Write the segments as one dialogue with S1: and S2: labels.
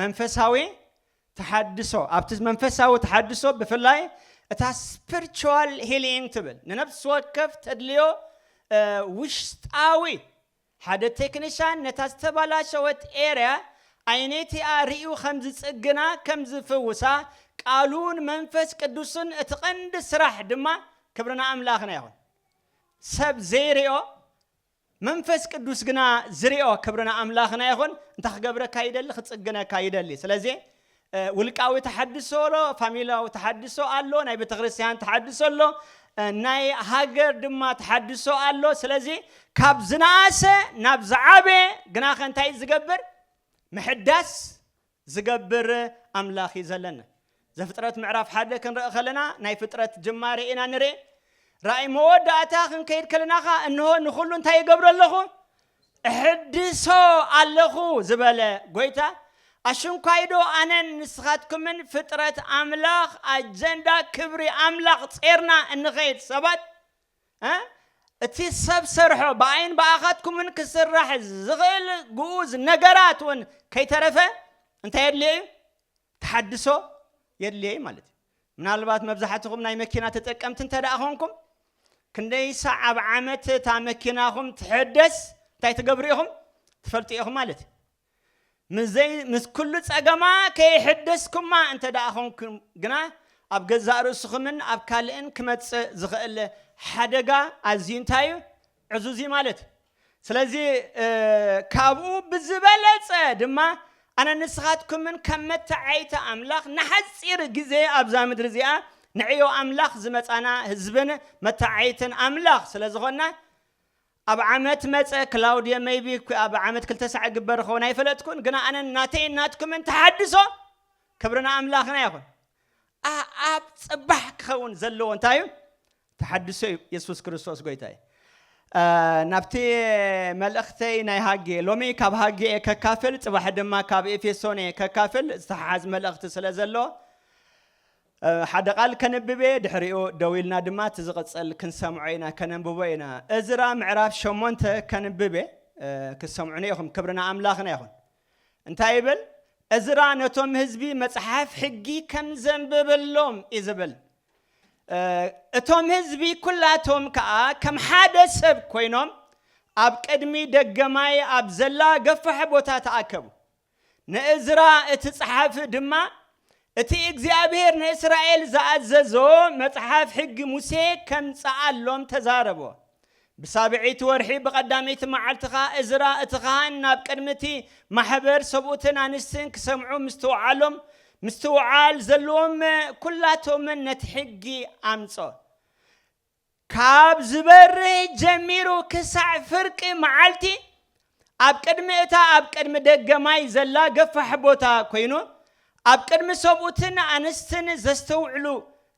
S1: መንፈሳዊ ተሓድሶ ኣብቲ መንፈሳዊ ተሓድሶ ብፍላይ እታ ስፕርቹዋል ሂሊንግ ትብል ንነብሲ ወከፍ ተድልዮ ውሽጣዊ ሓደ ቴክኒሻን ነታ ዝተባላሸወት ኤርያ ዓይነቲኣ ርእዩ ከም ዝጽግና ከም ዝፍውሳ ቃሉን መንፈስ ቅዱስን እቲ ቀንዲ ስራሕ ድማ ክብርና ኣምላኽና ይኹን ሰብ ዘይርኦ መንፈስ ቅዱስ ግና ዝሪኦ ክብሪ ንኣምላኽና ይኹን እንታይ ክገብረካ ይደሊ ክጽግነካ ይደሊ ስለዚ ውልቃዊ ተሓድሶ ኣሎ ፋሚላዊ ተሓድሶ ኣሎ ናይ ቤተክርስትያን ተሓድሶ ኣሎ ናይ ሃገር ድማ ተሓድሶ ኣሎ ስለዚ ካብ ዝነኣሰ ናብ ዝዓበየ ግናኸ እንታይ ዝገብር ምሕዳስ ዝገብር ኣምላኽ እዩ ዘለና። ዘፍጥረት ምዕራፍ ሓደ ክንርኢ ከለና ናይ ፍጥረት ጅማሬ ኢና ንርእ። ራእይ መወዳእታ ክንከይድ ከለና ኸዓ እንሆ ንኹሉ እንታይ ይገብሮ ኣለኹ እሕድሶ ኣለኹ ዝበለ ጎይታ ኣሽንኳይዶ ኣነን ንስኻትኩምን ፍጥረት ኣምላኽ ኣጀንዳ ክብሪ ኣምላኽ ጼርና እንኸይድ ሰባት እቲ ሰብ ሰርሖ ብኣይን ብኣኻትኩምን ክስራሕ ዝኽእል ግኡዝ ነገራት እውን ከይተረፈ እንታይ የድልዮ እዩ? ተሓድሶ የድልዮ እዩ ማለት እዩ። ምናልባት መብዛሕትኹም ናይ መኪና ተጠቀምቲ እንተ ደኣ ኾንኩም ክንደይ ሳዕ ኣብ ዓመት እታ መኪናኹም ትሕደስ እንታይ ትገብሩ ኢኹም ትፈልጡ ኢኹም ማለት እዩ። ምስ ኵሉ ጸገማ ከይሐደስኩማ እንተ ደኣ ዀንኩም ግና፣ ኣብ ገዛእ ርእስኹምን ኣብ ካልእን ኪመጽእ ዚኽእል ሐደጋ ኣዝዩ እንታይ እዩ? ዕዙዝ እዩ ማለት እዩ። ስለዚ ካብኡ ብዝበለጸ ድማ ኣነን ንስኻትኩምን ከም መተዓይይቲ ኣምላኽ ንሓጺር ግዜ ኣብዛ ምድሪ እዚኣ ንዕዮ ኣምላኽ ዝመጻና ህዝብን መተዓይይትን ኣምላኽ ስለ ዝዀንና፣ ኣብ ዓመት መጸ ክላውድየ መይቢ ኣብ ዓመት ክልተ ሳዕ ይግበር ይኸውን ኣይፈለጥኩን ግና ኣነን ናተይን ናትኩምን ተሓድሶ ክብሪ ንኣምላኽና ይኹን ኣኣብ ጽባሕ ክኸውን ዘለዎ እንታይ እዩ ተሓድሶ እዩ የሱስ ክርስቶስ ጎይታ እዩ ናብቲ መልእኽተይ ናይ ሃጌ ሎሚ ካብ ሃጌ እየ ከካፍል ጽባሕ ድማ ካብ ኤፌሶን እየ ከካፍል ዝተሓሓዝ መልእኽቲ ስለ ዘሎ ሓደ ቓል ከንብብ እየ፣ ድሕሪኡ ደው ኢልና ድማ እቲ ዚቕጽል ክንሰምዖ ኢና፣ ከነንብቦ ኢና። እዝራ ምዕራፍ ሸሞንተ ከንብብ እየ፣ ክትሰምዑኒ ኢኹም። ክብሪ ንኣምላኽና ይኹን። እንታይ ይብል? እዝራ ነቶም ህዝቢ መጽሓፍ ሕጊ ከም ዘንብበሎም እዩ ዝብል። እቶም ህዝቢ ኩላቶም ከኣ ከም ሓደ ሰብ ኮይኖም ኣብ ቅድሚ ደገ ማይ ኣብ ዘላ ገፋሕ ቦታ ተኣከቡ። ንእዝራ እቲ ጸሓፊ ድማ፣ እቲ እግዚኣብሄር ንእስራኤል ዝኣዘዞ መጽሓፍ ሕጊ ሙሴ ኬምጽኣሎም ተዛረቦ። ብሳብዐይቲ ወርሒ ብቐዳመይቲ መዓልቲ ኸኣ እዝራ እቲ ኻህን ናብ ቅድሚ እቲ ማሕበር፣ ሰብኡትን ኣንስትን ኪሰምዑ ምስትውዓሎም፣ ምስትውዓል ዘለዎም ኵላቶምን ነቲ ሕጊ ኣምጽኦ። ካብ ዝበርህ ጀሚሩ ክሳዕ ፍርቂ መዓልቲ ኣብ ቅድሚ እታ ኣብ ቅድሚ ደገ ማይ ዘላ ገፋሕ ቦታ ኰይኑ፣ ኣብ ቅድሚ ሰብኡትን ኣንስትን ዘስተውዕሉ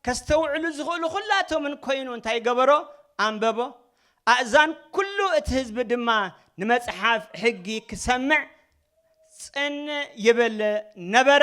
S1: ከስተውዕሉ ዝኽእሉ ዅላቶምን ኰይኑ እንታይ ገበሮ? ኣንበቦ። ኣእዛን ኵሉ እቲ ህዝቢ ድማ ንመጽሓፍ ሕጊ ክሰምዕ ጽን ይብል ነበረ።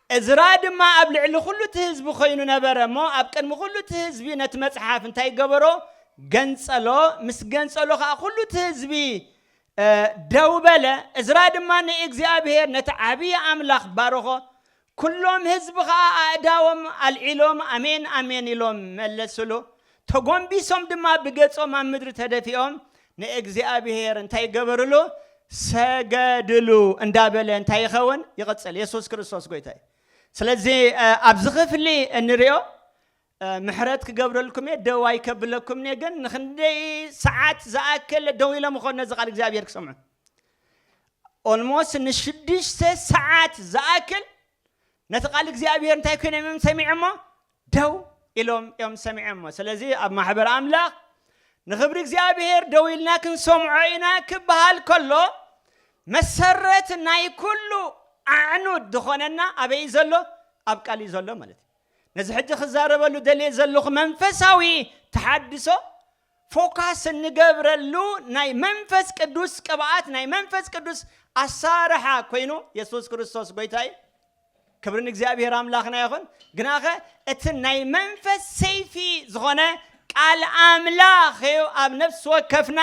S1: እዝራ ድማ ኣብ ልዕሊ ዅሉ እቲ ህዝቢ ዀይኑ ነበረ እሞ፣ ኣብ ቅድሚ ዅሉ እቲ ህዝቢ ነቲ መጽሓፍ እንታይ ገበሮ? ገንጸሎ። ምስ ገንጸሎ ኸኣ ኵሉ እቲ ህዝቢ ደው በለ። እዝራ ድማ ንእግዚኣብሄር ነቲ ዓብዪ ኣምላኽ ባረኾ። ኵሎም ህዝቢ ኸኣ ኣእዳዎም ኣልዒሎም ኣሜን! ኣሜን! ኢሎም መለሱሉ። ተጐንቢሶም ድማ ብገጾም ኣብ ምድሪ ተደፊኦም ንእግዚኣብሄር እንታይ ገበርሉ? ሰገድሉ እንዳ በለ እንታይ ይኸውን? ይቕጽል። የሱስ ክርስቶስ ጎይታ እዩ። ስለዚ ኣብዚ ክፍሊ እንሪኦ ምሕረት ክገብረልኩም እየ ደዋይ ከብለኩም እየ ግን ንክንደይ ሰዓት ዝኣክል ደው ኢሎም ኾን ነዚ ቃል እግዚኣብሔር ክሰምዑ ኦልሞስት ንሽዱሽተ ሰዓት ዝኣክል ነቲ ቃል እግዚኣብሔር እንታይ ኮይኖም እዮም ሰሚዖሞ ደው ኢሎም እዮም ሰሚዖሞ። ስለዚ ኣብ ማሕበር ኣምላኽ ንኽብሪ እግዚኣብሔር ደው ኢልና ክንሰምዖ ኢና ክበሃል ከሎ መሰረት ናይ ኩሉ ኣዕኑድ ዝኾነና ኣበይ እዩ ዘሎ? ኣብ ቃል እዩ ዘሎ ማለት እዩ። ነዚ ሕጂ ክዛረበሉ ደልየ ዘለኹ መንፈሳዊ ተሓድሶ ፎካስ እንገብረሉ ናይ መንፈስ ቅዱስ ቅብኣት ናይ መንፈስ ቅዱስ ኣሳርሓ ኮይኑ የሱስ ክርስቶስ ጎይታ እዩ ክብሪ ንእግዚኣብሄር ኣምላኽና ይኹን ግናኸ እቲ ናይ መንፈስ ሰይፊ ዝኾነ ቃል ኣምላኽ እዩ ኣብ ነፍሲ ወከፍና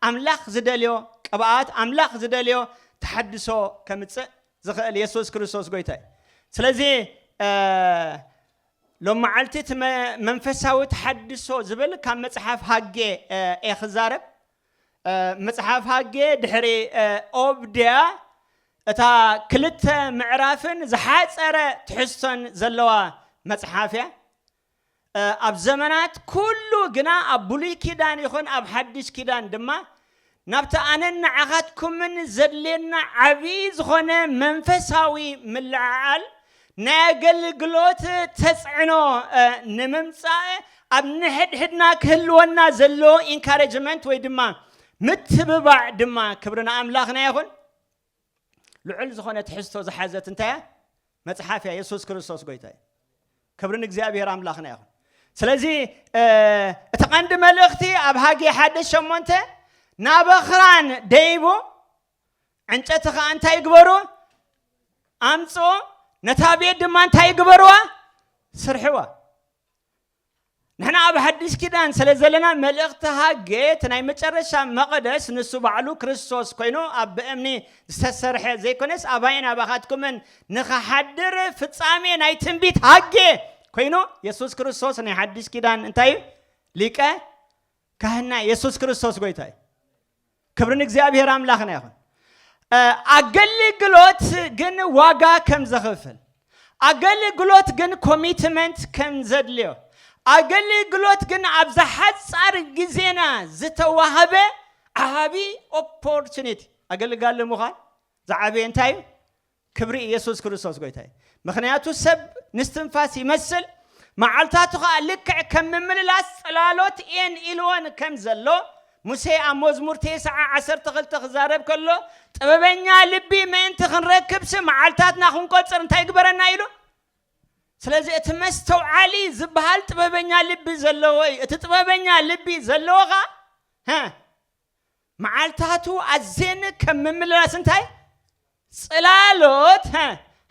S1: ኣምላኽ ዝደልዮ ቅብኣት ኣምላኽ ዝደልዮ ተሓድሶ ከምፅእ ዝኽእል የሱስ ክርስቶስ ጎይታ እዩ ስለዚ ሎምዓልቲ እቲ መንፈሳዊ ተሓድሶ ዝብል ካብ መጽሓፍ ሃጌ እየ ክዛረብ። መጽሓፍ ሃጌ ድሕሪ ኦብድያ እታ ክልተ ምዕራፍን ዝሓጸረ ትሕዝቶን ዘለዋ መጽሓፍ እያ። ኣብ ዘመናት ኩሉ ግና ኣብ ብሉይ ኪዳን ይኹን ኣብ ሓድሽ ኪዳን ድማ ናብቲ ኣነን ንዓኻትኩምን ዘድልየና ዓቢ ዝኾነ መንፈሳዊ ምልዕዓል ናይ ኣገልግሎት ተጽዕኖ ንምምጻእ ኣብ ንሕድሕድና ክህልወና ዘለዎ ኢንካረጅመንት ወይ ድማ ምትብባዕ ድማ ክብሪ ንኣምላኽና ይኹን። ልዑል ዝኾነ ትሕዝቶ ዝሓዘት እንታይ እያ? መጽሓፍ እያ። የሱስ ክርስቶስ ጎይታ እዩ። ክብሪ ንእግዚኣብሔር ኣምላኽና ይኹን። ስለዚ እ፣ እቲ ቀንዲ መልእኽቲ ኣብ ሃጌ ሓደ ሸሞንተ ናብ ኣኽራን ደይቡ ዕንጨቲ ከዓ እንታይ ይግበሩ ኣምፅኡ ነታ ቤት ድማ እንታይ ይግበርዋ ስርሕዋ ንሕና ኣብ ሓድሽ ኪዳን ስለ ዘለና መልእኽቲ ሃጌ እቲ ናይ መጨረሻ መቐደስ ንሱ ባዕሉ ክርስቶስ ኮይኑ ኣብ ብእምኒ ዝተሰርሐ ዘይኮነስ ኣባይን ኣባኻትኩምን ንኽሓድር ፍጻሜ ናይ ትንቢት ሃጌ ኮይኑ የሱስ ክርስቶስ ናይ ሓድሽ ኪዳን እንታይ እዩ ሊቀ ካህንና የሱስ ክርስቶስ ጎይታ እዩ። ክብሪ ንእግዚኣብሔር ኣምላኽና ይኹን። ኣገልግሎት ግን ዋጋ ከም ዘኽፍል፣ ኣገልግሎት ግን ኮሚትመንት ከም ዘድልዮ፣ ኣገልግሎት ግን ኣብዛ ሓፃር ግዜና ዝተዋህበ ዓቢ ኦፖርቹኒቲ ኣገልጋሊ ምዃን ዝዓበየ እንታይ እዩ? ክብሪ ኢየሱስ ክርስቶስ ጎይታ እዩ ምኽንያቱ ሰብ ንስትንፋስ ይመስል መዓልታቱ ኸኣ ልክዕ ከም ምምልላስ ጽላሎት እየን ኢልወን ከም ዘሎ ሙሴ ኣብ መዝሙር ቴስዓ ዓሰርተ ክልተ ክዛረብ ከሎ ጥበበኛ ልቢ ምእንቲ ክንረክብሲ መዓልታትና ክንቆጽር እንታይ ግበረና ኢሉ ስለዚ እቲ መስተውዓሊ ዝበሃል ጥበበኛ ልቢ ዘለዎ እዩ እቲ ጥበበኛ ልቢ ዘለዎ ኸ መዓልታቱ ኣዜኒ ከም ምምልላስ እንታይ ጽላሎት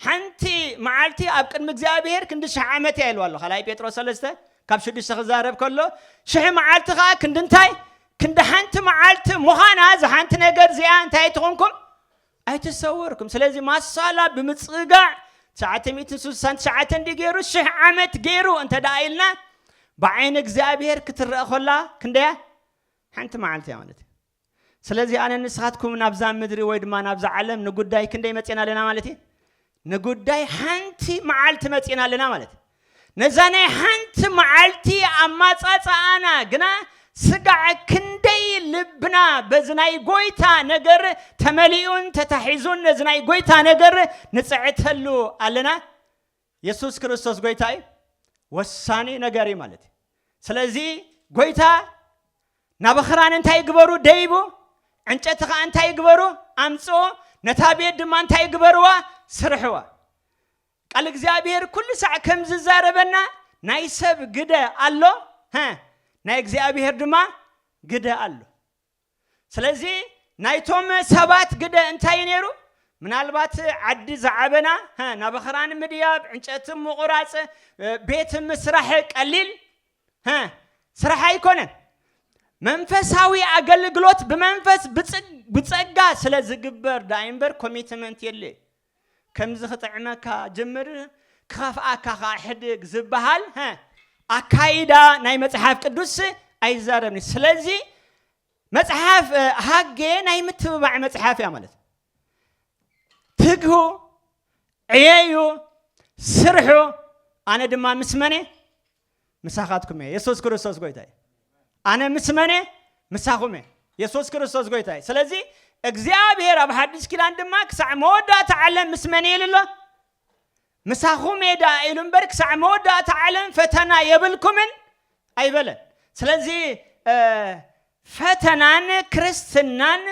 S1: ሓንቲ መዓልቲ ኣብ ቅድሚ እግዚኣብሔር ክንዲ ሽሕ ዓመት እያ ኢልዋ ኣሎ ካልኣይ ጴጥሮስ ሰለስተ ካብ ሽዱሽተ ክዛረብ ከሎ ሽሕ መዓልቲ ከዓ ክንዲ እንታይ ክንዲ ሓንቲ መዓልቲ ምዃና እዚ ሓንቲ ነገር እዚኣ እንታይ ኣይትኾንኩም ኣይተሰወርኩም ስለዚ ማሳላ ብምፅጋዕ ትሽዓተ ሚእትን ስልሳን ትሽዓተን ዲ ገይሩ ሽሕ ዓመት ገይሩ እንተ ደኣ ኢልና ብዓይኒ እግዚኣብሔር ክትረአ ኮላ ክንደያ ሓንቲ መዓልቲ እያ ማለት እዩ። ስለዚ ኣነን ንስኻትኩምን ናብዛ ምድሪ ወይ ድማ ናብዛ ዓለም ንጉዳይ ክንደይ መፂና ኣለና ማለት እዩ? ንጉዳይ ሓንቲ መዓልቲ መፂና ኣለና ማለት እዩ። ነዛ ናይ ሓንቲ መዓልቲ ኣማፃፅኣና ግና ስጋዕ ክንደይ ልብና በዚ ናይ ጎይታ ነገር ተመሊኡን ተታሒዙን ነዚ ናይ ጎይታ ነገር ንፅዕተሉ ኣለና። የሱስ ክርስቶስ ጎይታ እዩ ወሳኒ ነገር እዩ ማለት እዩ ስለዚ ጎይታ ናብ ኽራን እንታይ ይግበሩ ደይቡ ዕንጨቲ ከዓ እንታይ ይግበሩ ኣምፅኡ ነታ ቤት ድማ እንታይ ይግበርዋ ስርሕዋ ቃል እግዚኣብሔር ኩሉ ሳዕ ከም ዝዛረበና ናይ ሰብ ግደ ኣሎ ናይ እግዚኣብሔር ድማ ግደ ኣሎ ስለዚ ናይቶም ሰባት ግደ እንታይ እዩ ነይሩ? ምናልባት ዓዲ ዝዓበና ናብኽራን ምድያብ፣ ዕንጨቲ ምቑራጽ፣ ቤት ምስራሕ ቀሊል ስራሕ ኣይኮነን። መንፈሳዊ ኣገልግሎት ብመንፈስ ብጸጋ ስለ ዝግበር ደኣ'ምበር ኮሚትመንት የድልዮ እዩ። ከምዚ ክጥዕመካ ጀምር ክኸፍኣካ ከኣ ሕድግ ዝበሃል ኣካይዳ ናይ መጽሓፍ ቅዱስ ኣይዛረብን። ስለዚ መጽሓፍ ሃጌ ናይ ምትብባዕ መጽሓፍ እያ ማለት ትግሁ ዕየዩ ስርሑ ኣነ ድማ ምስ መነ ምሳኻትኩም እየ የሱስ ክርስቶስ ጎይታ እዩ ኣነ ምስ መን እየ ምሳኹም እየ የሱስ ክርስቶስ ጎይታ እዩ ስለዚ እግዚኣብሔር ኣብ ሓድሽ ኪዳን ድማ ክሳዕ መወዳእታ ዓለም ምስ መን እየ ኢሉ ኣሎ ምሳኹም እየ ደኣ ኢሉ እምበር ክሳዕ መወዳእታ ዓለም ፈተና የብልኩምን ኣይበለን ስለዚ እ፣ ፈተናን ክርስትናን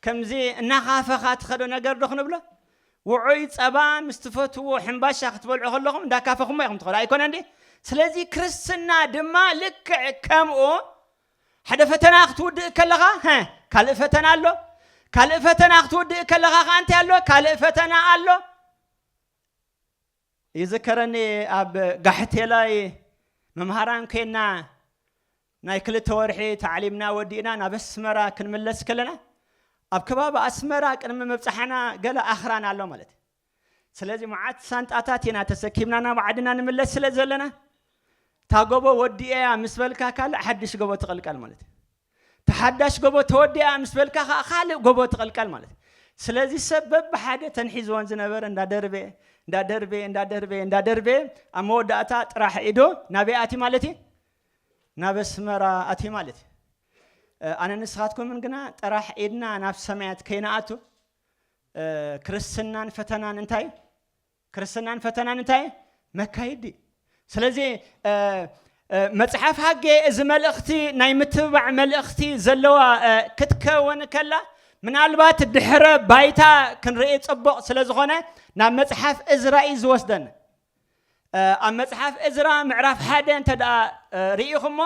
S1: ከምዚ እናኻፈኻ ትኸዶ ነገር ዶ ክንብሎ? ውዑይ ጸባ ምስ ትፈትውዎ ሕምባሻ ክትበልዑ ከለኹም እንዳካፈኹሞ ኢኹም ትኸዱ ኣይኮነን ድዩ? ስለዚ ክርስትና ድማ ልክዕ ከምኡ ሓደ ፈተና ክትውድእ ከለኻ ሀ ካልእ ፈተና ኣሎ ካልእ ፈተና ክትውድእ ከለኻ ከዓ እንታይ ኣሎ ካልእ ፈተና ኣሎ ይዝከረኒ ኣብ ጋሕቴላይ መምሃራን ኮይና ናይ ክልተ ወርሒ ታዕሊምና ወዲእና ናብ ኣስመራ ክንምለስ ከለና ኣብ ከባቢ ኣስመራ ቅድሚ ምብጻሕና ገለ ኣኽራን ኣሎ ማለት ስለዚ መዓት ሳንጣታት ኢና ተሰኪምና ናብ ዓድና ንምለስ ስለ ዘለና እታ ጎቦ ወዲኤያ ምስ በልካ ካልእ ሓድሽ ጎቦ ትቕልቀል ማለት እዩ እታ ሓዳሽ ጎቦ ተወዲኣ ምስ በልካ ከዓ ካልእ ጎቦ ትቕልቀል ማለት እዩ ስለዚ ሰብ በብሓደ ተንሒዝዎን ዝነበረ እንዳደርበ እንዳደርበ እንዳደርበ እንዳደርበ ኣብ መወዳእታ ጥራሕ ኢዶ ናበይ ኣቲ ማለት እዩ ናብ ኣስመራ ኣትዩ ማለት እዩ። ኣነ ንስኻትኩምን ግና ጥራሕ ኢድና ናብ ሰማያት ከይንኣቱ ክርስትናን ፈተናን እንታይ እዩ? ክርስትናን ፈተናን እንታይ እዩ? መካይዲ እዩ። ስለዚ መጽሓፍ ሃጌ እዚ መልእኽቲ ናይ ምትብባዕ መልእኽቲ ዘለዋ ክትከውን ከላ ምናልባት ድሕረ ባይታ ክንርኢ ጽቡቕ ስለ ዝኾነ ናብ መጽሓፍ እዝራ እዩ ዝወስደን ኣብ መጽሓፍ እዝራ ምዕራፍ ሓደ እንተ ርኢኹሞ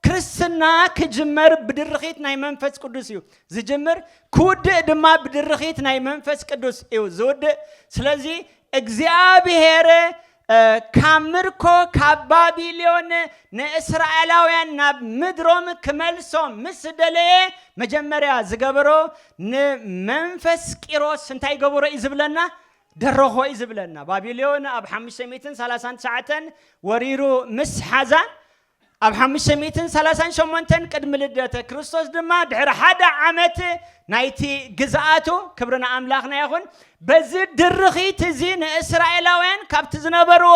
S1: ክርስትና ክጅመር ብድርኺት ናይ መንፈስ ቅዱስ እዩ ዝጅምር፣ ክውድእ ድማ ብድርኺት ናይ መንፈስ ቅዱስ እዩ ዝውድእ። ስለዚ እግዚኣብሄር ካብ ምርኮ ካብ ባቢሎን ንእስራኤላውያን ናብ ምድሮም ክመልሶም ምስ ደለየ መጀመርያ ዝገበሮ ንመንፈስ ቂሮስ እንታይ ገበሮ እዩ ዝብለና? ደረኾ'ዩ ዝብለና። ባቢሎን ኣብ ሓሙሽተ ሚእትን ሰላሳን ትሽዓተን ወሪሩ ምስ ሓዛ፣ ኣብ ሓሙሽተ ሚእትን ሰላሳን ሸሞንተን ቅድሚ ልደተ ክርስቶስ ድማ ድሕሪ ሓደ ዓመት ናይቲ ግዝኣቱ፣ ክብሪ ንኣምላኽና ይኹን፣ በዚ ድርኺት እዚ ንእስራኤላውያን ካብቲ ዝነበርዎ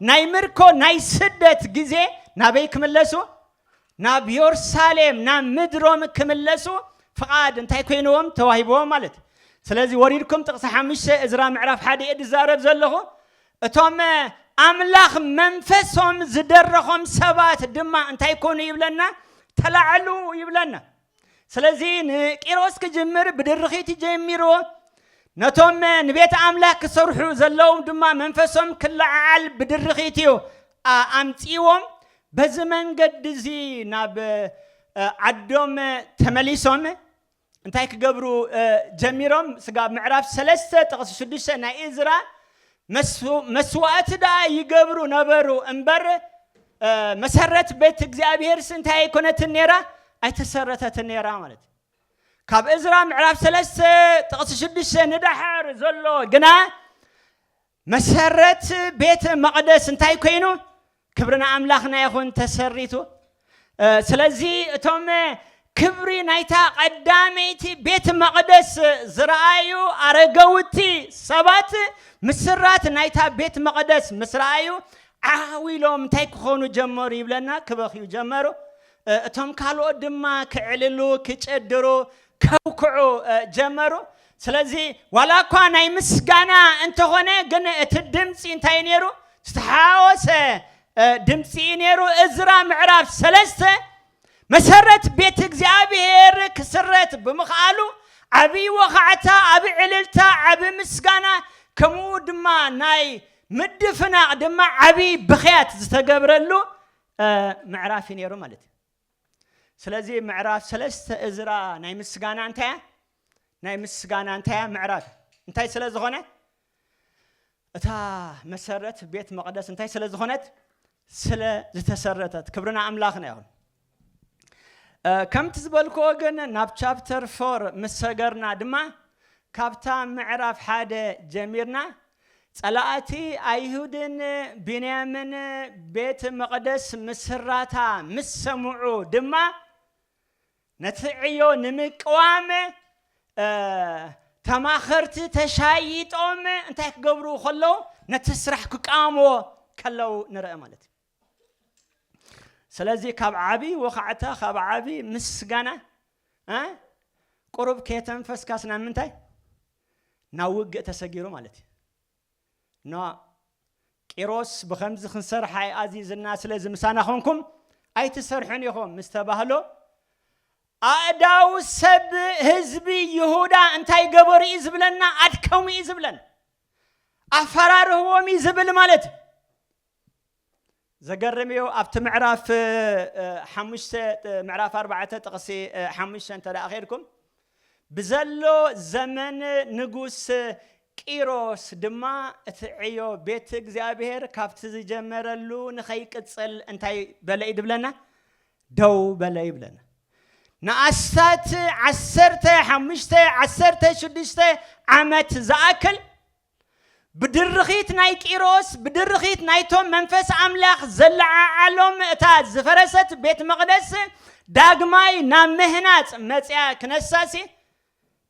S1: ናይ ምርኮ ናይ ስደት ግዜ ናበይ ክምለሱ ናብ ዮርሳሌም ናብ ምድሮም ክምለሱ ፍቃድ እንታይ ኮይንዎም ተዋሂብዎም ማለት ስለዚ ወሪድኩም ጥቅሲ ሓሙሽተ እዝራ ምዕራፍ ሓደ እየ ዝዛረብ ዘለኹ እቶም ኣምላኽ መንፈሶም ዝደረኾም ሰባት ድማ እንታይ ኮኑ ይብለና ተላዐሉ ይብለና ስለዚ ንቂሮስ ክጅምር ብድርኺት ጀሚሩ ነቶም ንቤት ኣምላኽ ክሰርሑ ዘለዎም ድማ መንፈሶም ክለዓዓል ብድርኺት እዩ ኣምጺዎም በዚ መንገዲ እዚ ናብ ዓዶም ተመሊሶም እንታይ ክገብሩ ጀሚሮም ስጋብ ምዕራፍ ሰለስተ ጥቕሲ ሽዱሽተ ናይ እዝራ መስዋእቲ ደኣ ይገብሩ ነበሩ እምበር መሰረት ቤት እግዚኣብሔርስ እንታይ ኣይኮነትን ነይራ? ኣይተሰረተትን ነይራ ማለት እዩ። ካብ እዝራ ምዕራፍ ሰለስተ ጥቕሲ ሽዱሽተ ንዳሕር ዘሎ ግና መሰረት ቤተ መቕደስ እንታይ ኮይኑ ክብሪ ንኣምላኽና ይኹን ተሰሪቱ። ስለዚ እቶም ክብሪ ናይታ ቐዳመይቲ ቤት መቕደስ ዝረኣዩ ኣረገውቲ ሰባት ምስራት ናይታ ቤት መቕደስ ምስ ረኣዩ ዓው ኢሎም እንታይ ክኾኑ ጀመሩ ይብለና ክበኽዩ ጀመሩ። እቶም ካልኦት ድማ ክዕልሉ ክጨድሩ ከውክዑ ጀመሩ። ስለዚ ዋላ እኳ ናይ ምስጋና እንተኾነ ግን እቲ ድምፂ እንታይ ነይሩ? ዝተሓዋወሰ ድምፂ እዩ ነይሩ። እዝራ ምዕራፍ ሰለስተ መሰረት ቤት እግዚኣብሔር ክስረት ብምኽኣሉ ዓብዪ ወኻዕታ፣ ዓብዪ ዕልልታ፣ ዓብዪ ምስጋና ከምኡ ድማ ናይ ምድፍናቕ ድማ ዓብዪ ብኽያት ዝተገብረሉ ምዕራፍ እዩ ነይሩ ማለት እዩ። ስለዚ ምዕራፍ ሰለስተ እዝራ ናይ ምስጋና እንታይ እያ? ናይ ምስጋና እንታይ እያ? ምዕራፍ እንታይ ስለ ዝኾነ እታ መሰረት ቤት መቕደስ እንታይ ስለ ዝኾነት ስለ ዝተሰረተት ክብርና ኣምላኽና ይኹን። ከምቲ ዝበልክዎ ግን ናብ ቻፕተር ፎር ምስ ሰገርና ድማ ካብታ ምዕራፍ ሓደ ጀሚርና ጸላእቲ ኣይሁድን ብንያምን ቤት መቕደስ ምስራታ ምስ ሰምዑ ድማ ነቲ ዕዮ ንምቅዋም ተማኸርቲ ተሻይጦም እንታይ ክገብሩ ከለዉ ነቲ ስራሕ ክቃወምዎ ከለዉ ንርአ ማለት እዩ ስለዚ ካብ ዓብዪ ወኻዕታ ካብ ዓብዪ ምስጋና ቁሩብ ከየተንፈስካስ ናብ ምንታይ ናብ ውግእ ተሰጊሩ ማለት እዩ። ን ቂሮስ ብኸምዚ ክንሰርሓ እዩ ኣዚዙና ስለዚ ምሳና ኾንኩም ኣይትሰርሑን ኢኹም ምስ ተባህሎ ኣእዳው ሰብ ህዝቢ ይሁዳ እንታይ ገበሩ እዩ ዝብለና ኣድከሙ እዩ ዝብለን ኣፈራርህዎም እዩ ዝብል ማለት እዩ። ዘገርም እዩ ኣብቲ ምዕራፍ ሓሙሽተ ምዕራፍ ኣርባዕተ ጥቕሲ ሓሙሽተ እንተ ኼድኩም ብዘሎ ዘመን ንጉስ ቂሮስ ድማ እቲ ዕዮ ቤት እግዚኣብሔር ካብቲ ዝጀመረሉ ንኸይቅፅል እንታይ በለ እዩ ድብለና ደው በለ ይብለና ንኣስታት ዓሰርተ ሓሙሽተ ዓሰርተ ሽዱሽተ ዓመት ዝኣክል ብድርኺት ናይ ቂሮስ፣ ብድርኺት ናይቶም መንፈስ ኣምላኽ ዘለዓዓሎም እታ ዝፈረሰት ቤት መቕደስ ዳግማይ ናብ ምህናጽ መጺኣ ክነሳሲ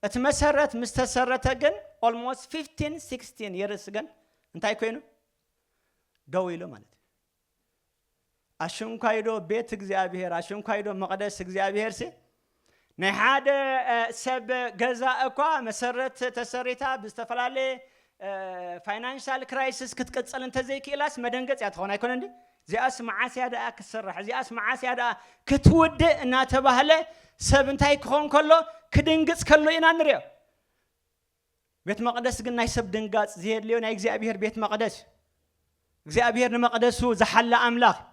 S1: እቲ መሰረት ምስ ተሰረተ ግን ኦልሞስት 15 16 የርስ ግን እንታይ ኮይኑ ደው ኢሉ ማለት እዩ። ኣሸንኳይዶ ቤት እግዚኣብሔር ኣሸንኳይዶ መቕደስ እግዚኣብሔርሲ ናይ ሓደ ሰብ ገዛ እኳ መሰረት ተሰሪታ ብዝተፈላለየ ፋይናንሻል ክራይሲስ ክትቅፅል እንተዘይክኢላስ መደንገፅ እያ ትኸውን ኣይኮነ እንዲ እዚኣስ መዓስ እያ ደኣ ክትስራሕ እዚኣስ መዓስ እያ ደኣ ክትውድእ እናተባህለ ሰብ እንታይ ክኸውን ከሎ ክድንግፅ ከሎ ኢና ንሪኦ ቤት መቕደስ ግን ናይ ሰብ ድንጋጽ ዘየድልዮ ናይ እግዚኣብሔር ቤት መቕደስ እዩ። እግዚኣብሔር ንመቕደሱ ዝሓለ ኣምላኽ እዩ።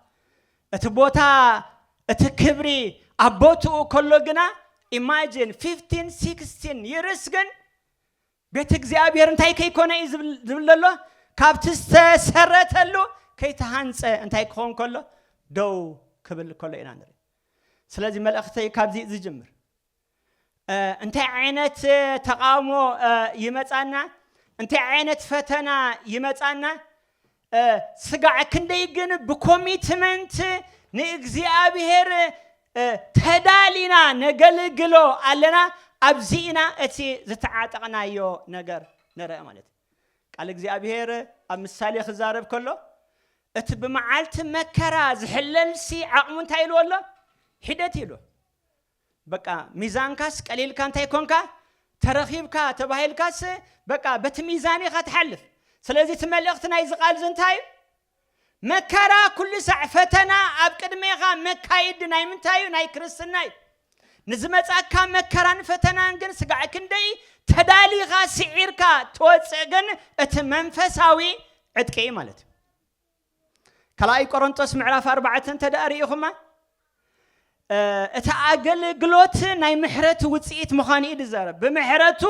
S1: እቲ ቦታ እቲ ክብሪ ኣብ ቦትኡ ከሎ ግና ኢማጂን 15 16 ይርስ ግን ቤት እግዚኣብሔር እንታይ ከይኮነ እዩ ዝብል ዘሎ ካብቲ ዝተሰረተሉ ከይተሃንፀ እንታይ ክኸውን ከሎ ደው ክብል ከሎ ኢና ንርኢ። ስለዚ መልእኽተይ ካብዚ ዝጅምር እንታይ ዓይነት ተቓውሞ ይመጻና፣ እንታይ ዓይነት ፈተና ይመጻና፣ ስጋዕ ክንደይ ግን ብኮሚትመንት ንእግዚኣብሔር ተዳሊና ነገልግሎ ኣለና፣ ኣብዚ ኢና እቲ ዝተዓጠቕናዮ ነገር ንርእ ማለት እዩ። ቃል እግዚኣብሔር ኣብ ምሳሌ ክዛረብ ከሎ እቲ ብመዓልቲ መከራ ዝሕለልሲ ዓቕሙ እንታይ ኢልዎ ኣሎ? ሒደት ኢሉ። በቃ ሚዛንካስ ቀሊልካ እንተይኮንካ ተረኺብካ ተባሂልካስ በቃ በቲ ሚዛን ኢኻ ትሓልፍ ስለዚ እቲ መልእኽቲ ናይዚ ቃልዚ እንታይ እዩ መከራ ኩሉ ሳዕ ፈተና ኣብ ቅድሜኻ መካይዲ ናይ ምንታይ እዩ ናይ ክርስትና እዩ ንዝመጻካ መከራን ፈተናን ግን ስጋዕ ክንደይ ተዳሊኻ ስዒርካ ትወፅእ ግን እቲ መንፈሳዊ ዕጥቂ እዩ ማለት እዩ ካልኣይ ቆሮንጦስ ምዕራፍ ኣርባዕተ እንተ ደኣ ርኢኹማ እቲ ኣገልግሎት ናይ ምሕረት ውፅኢት ምዃኑ እዩ ዝዛረብ ብምሕረቱ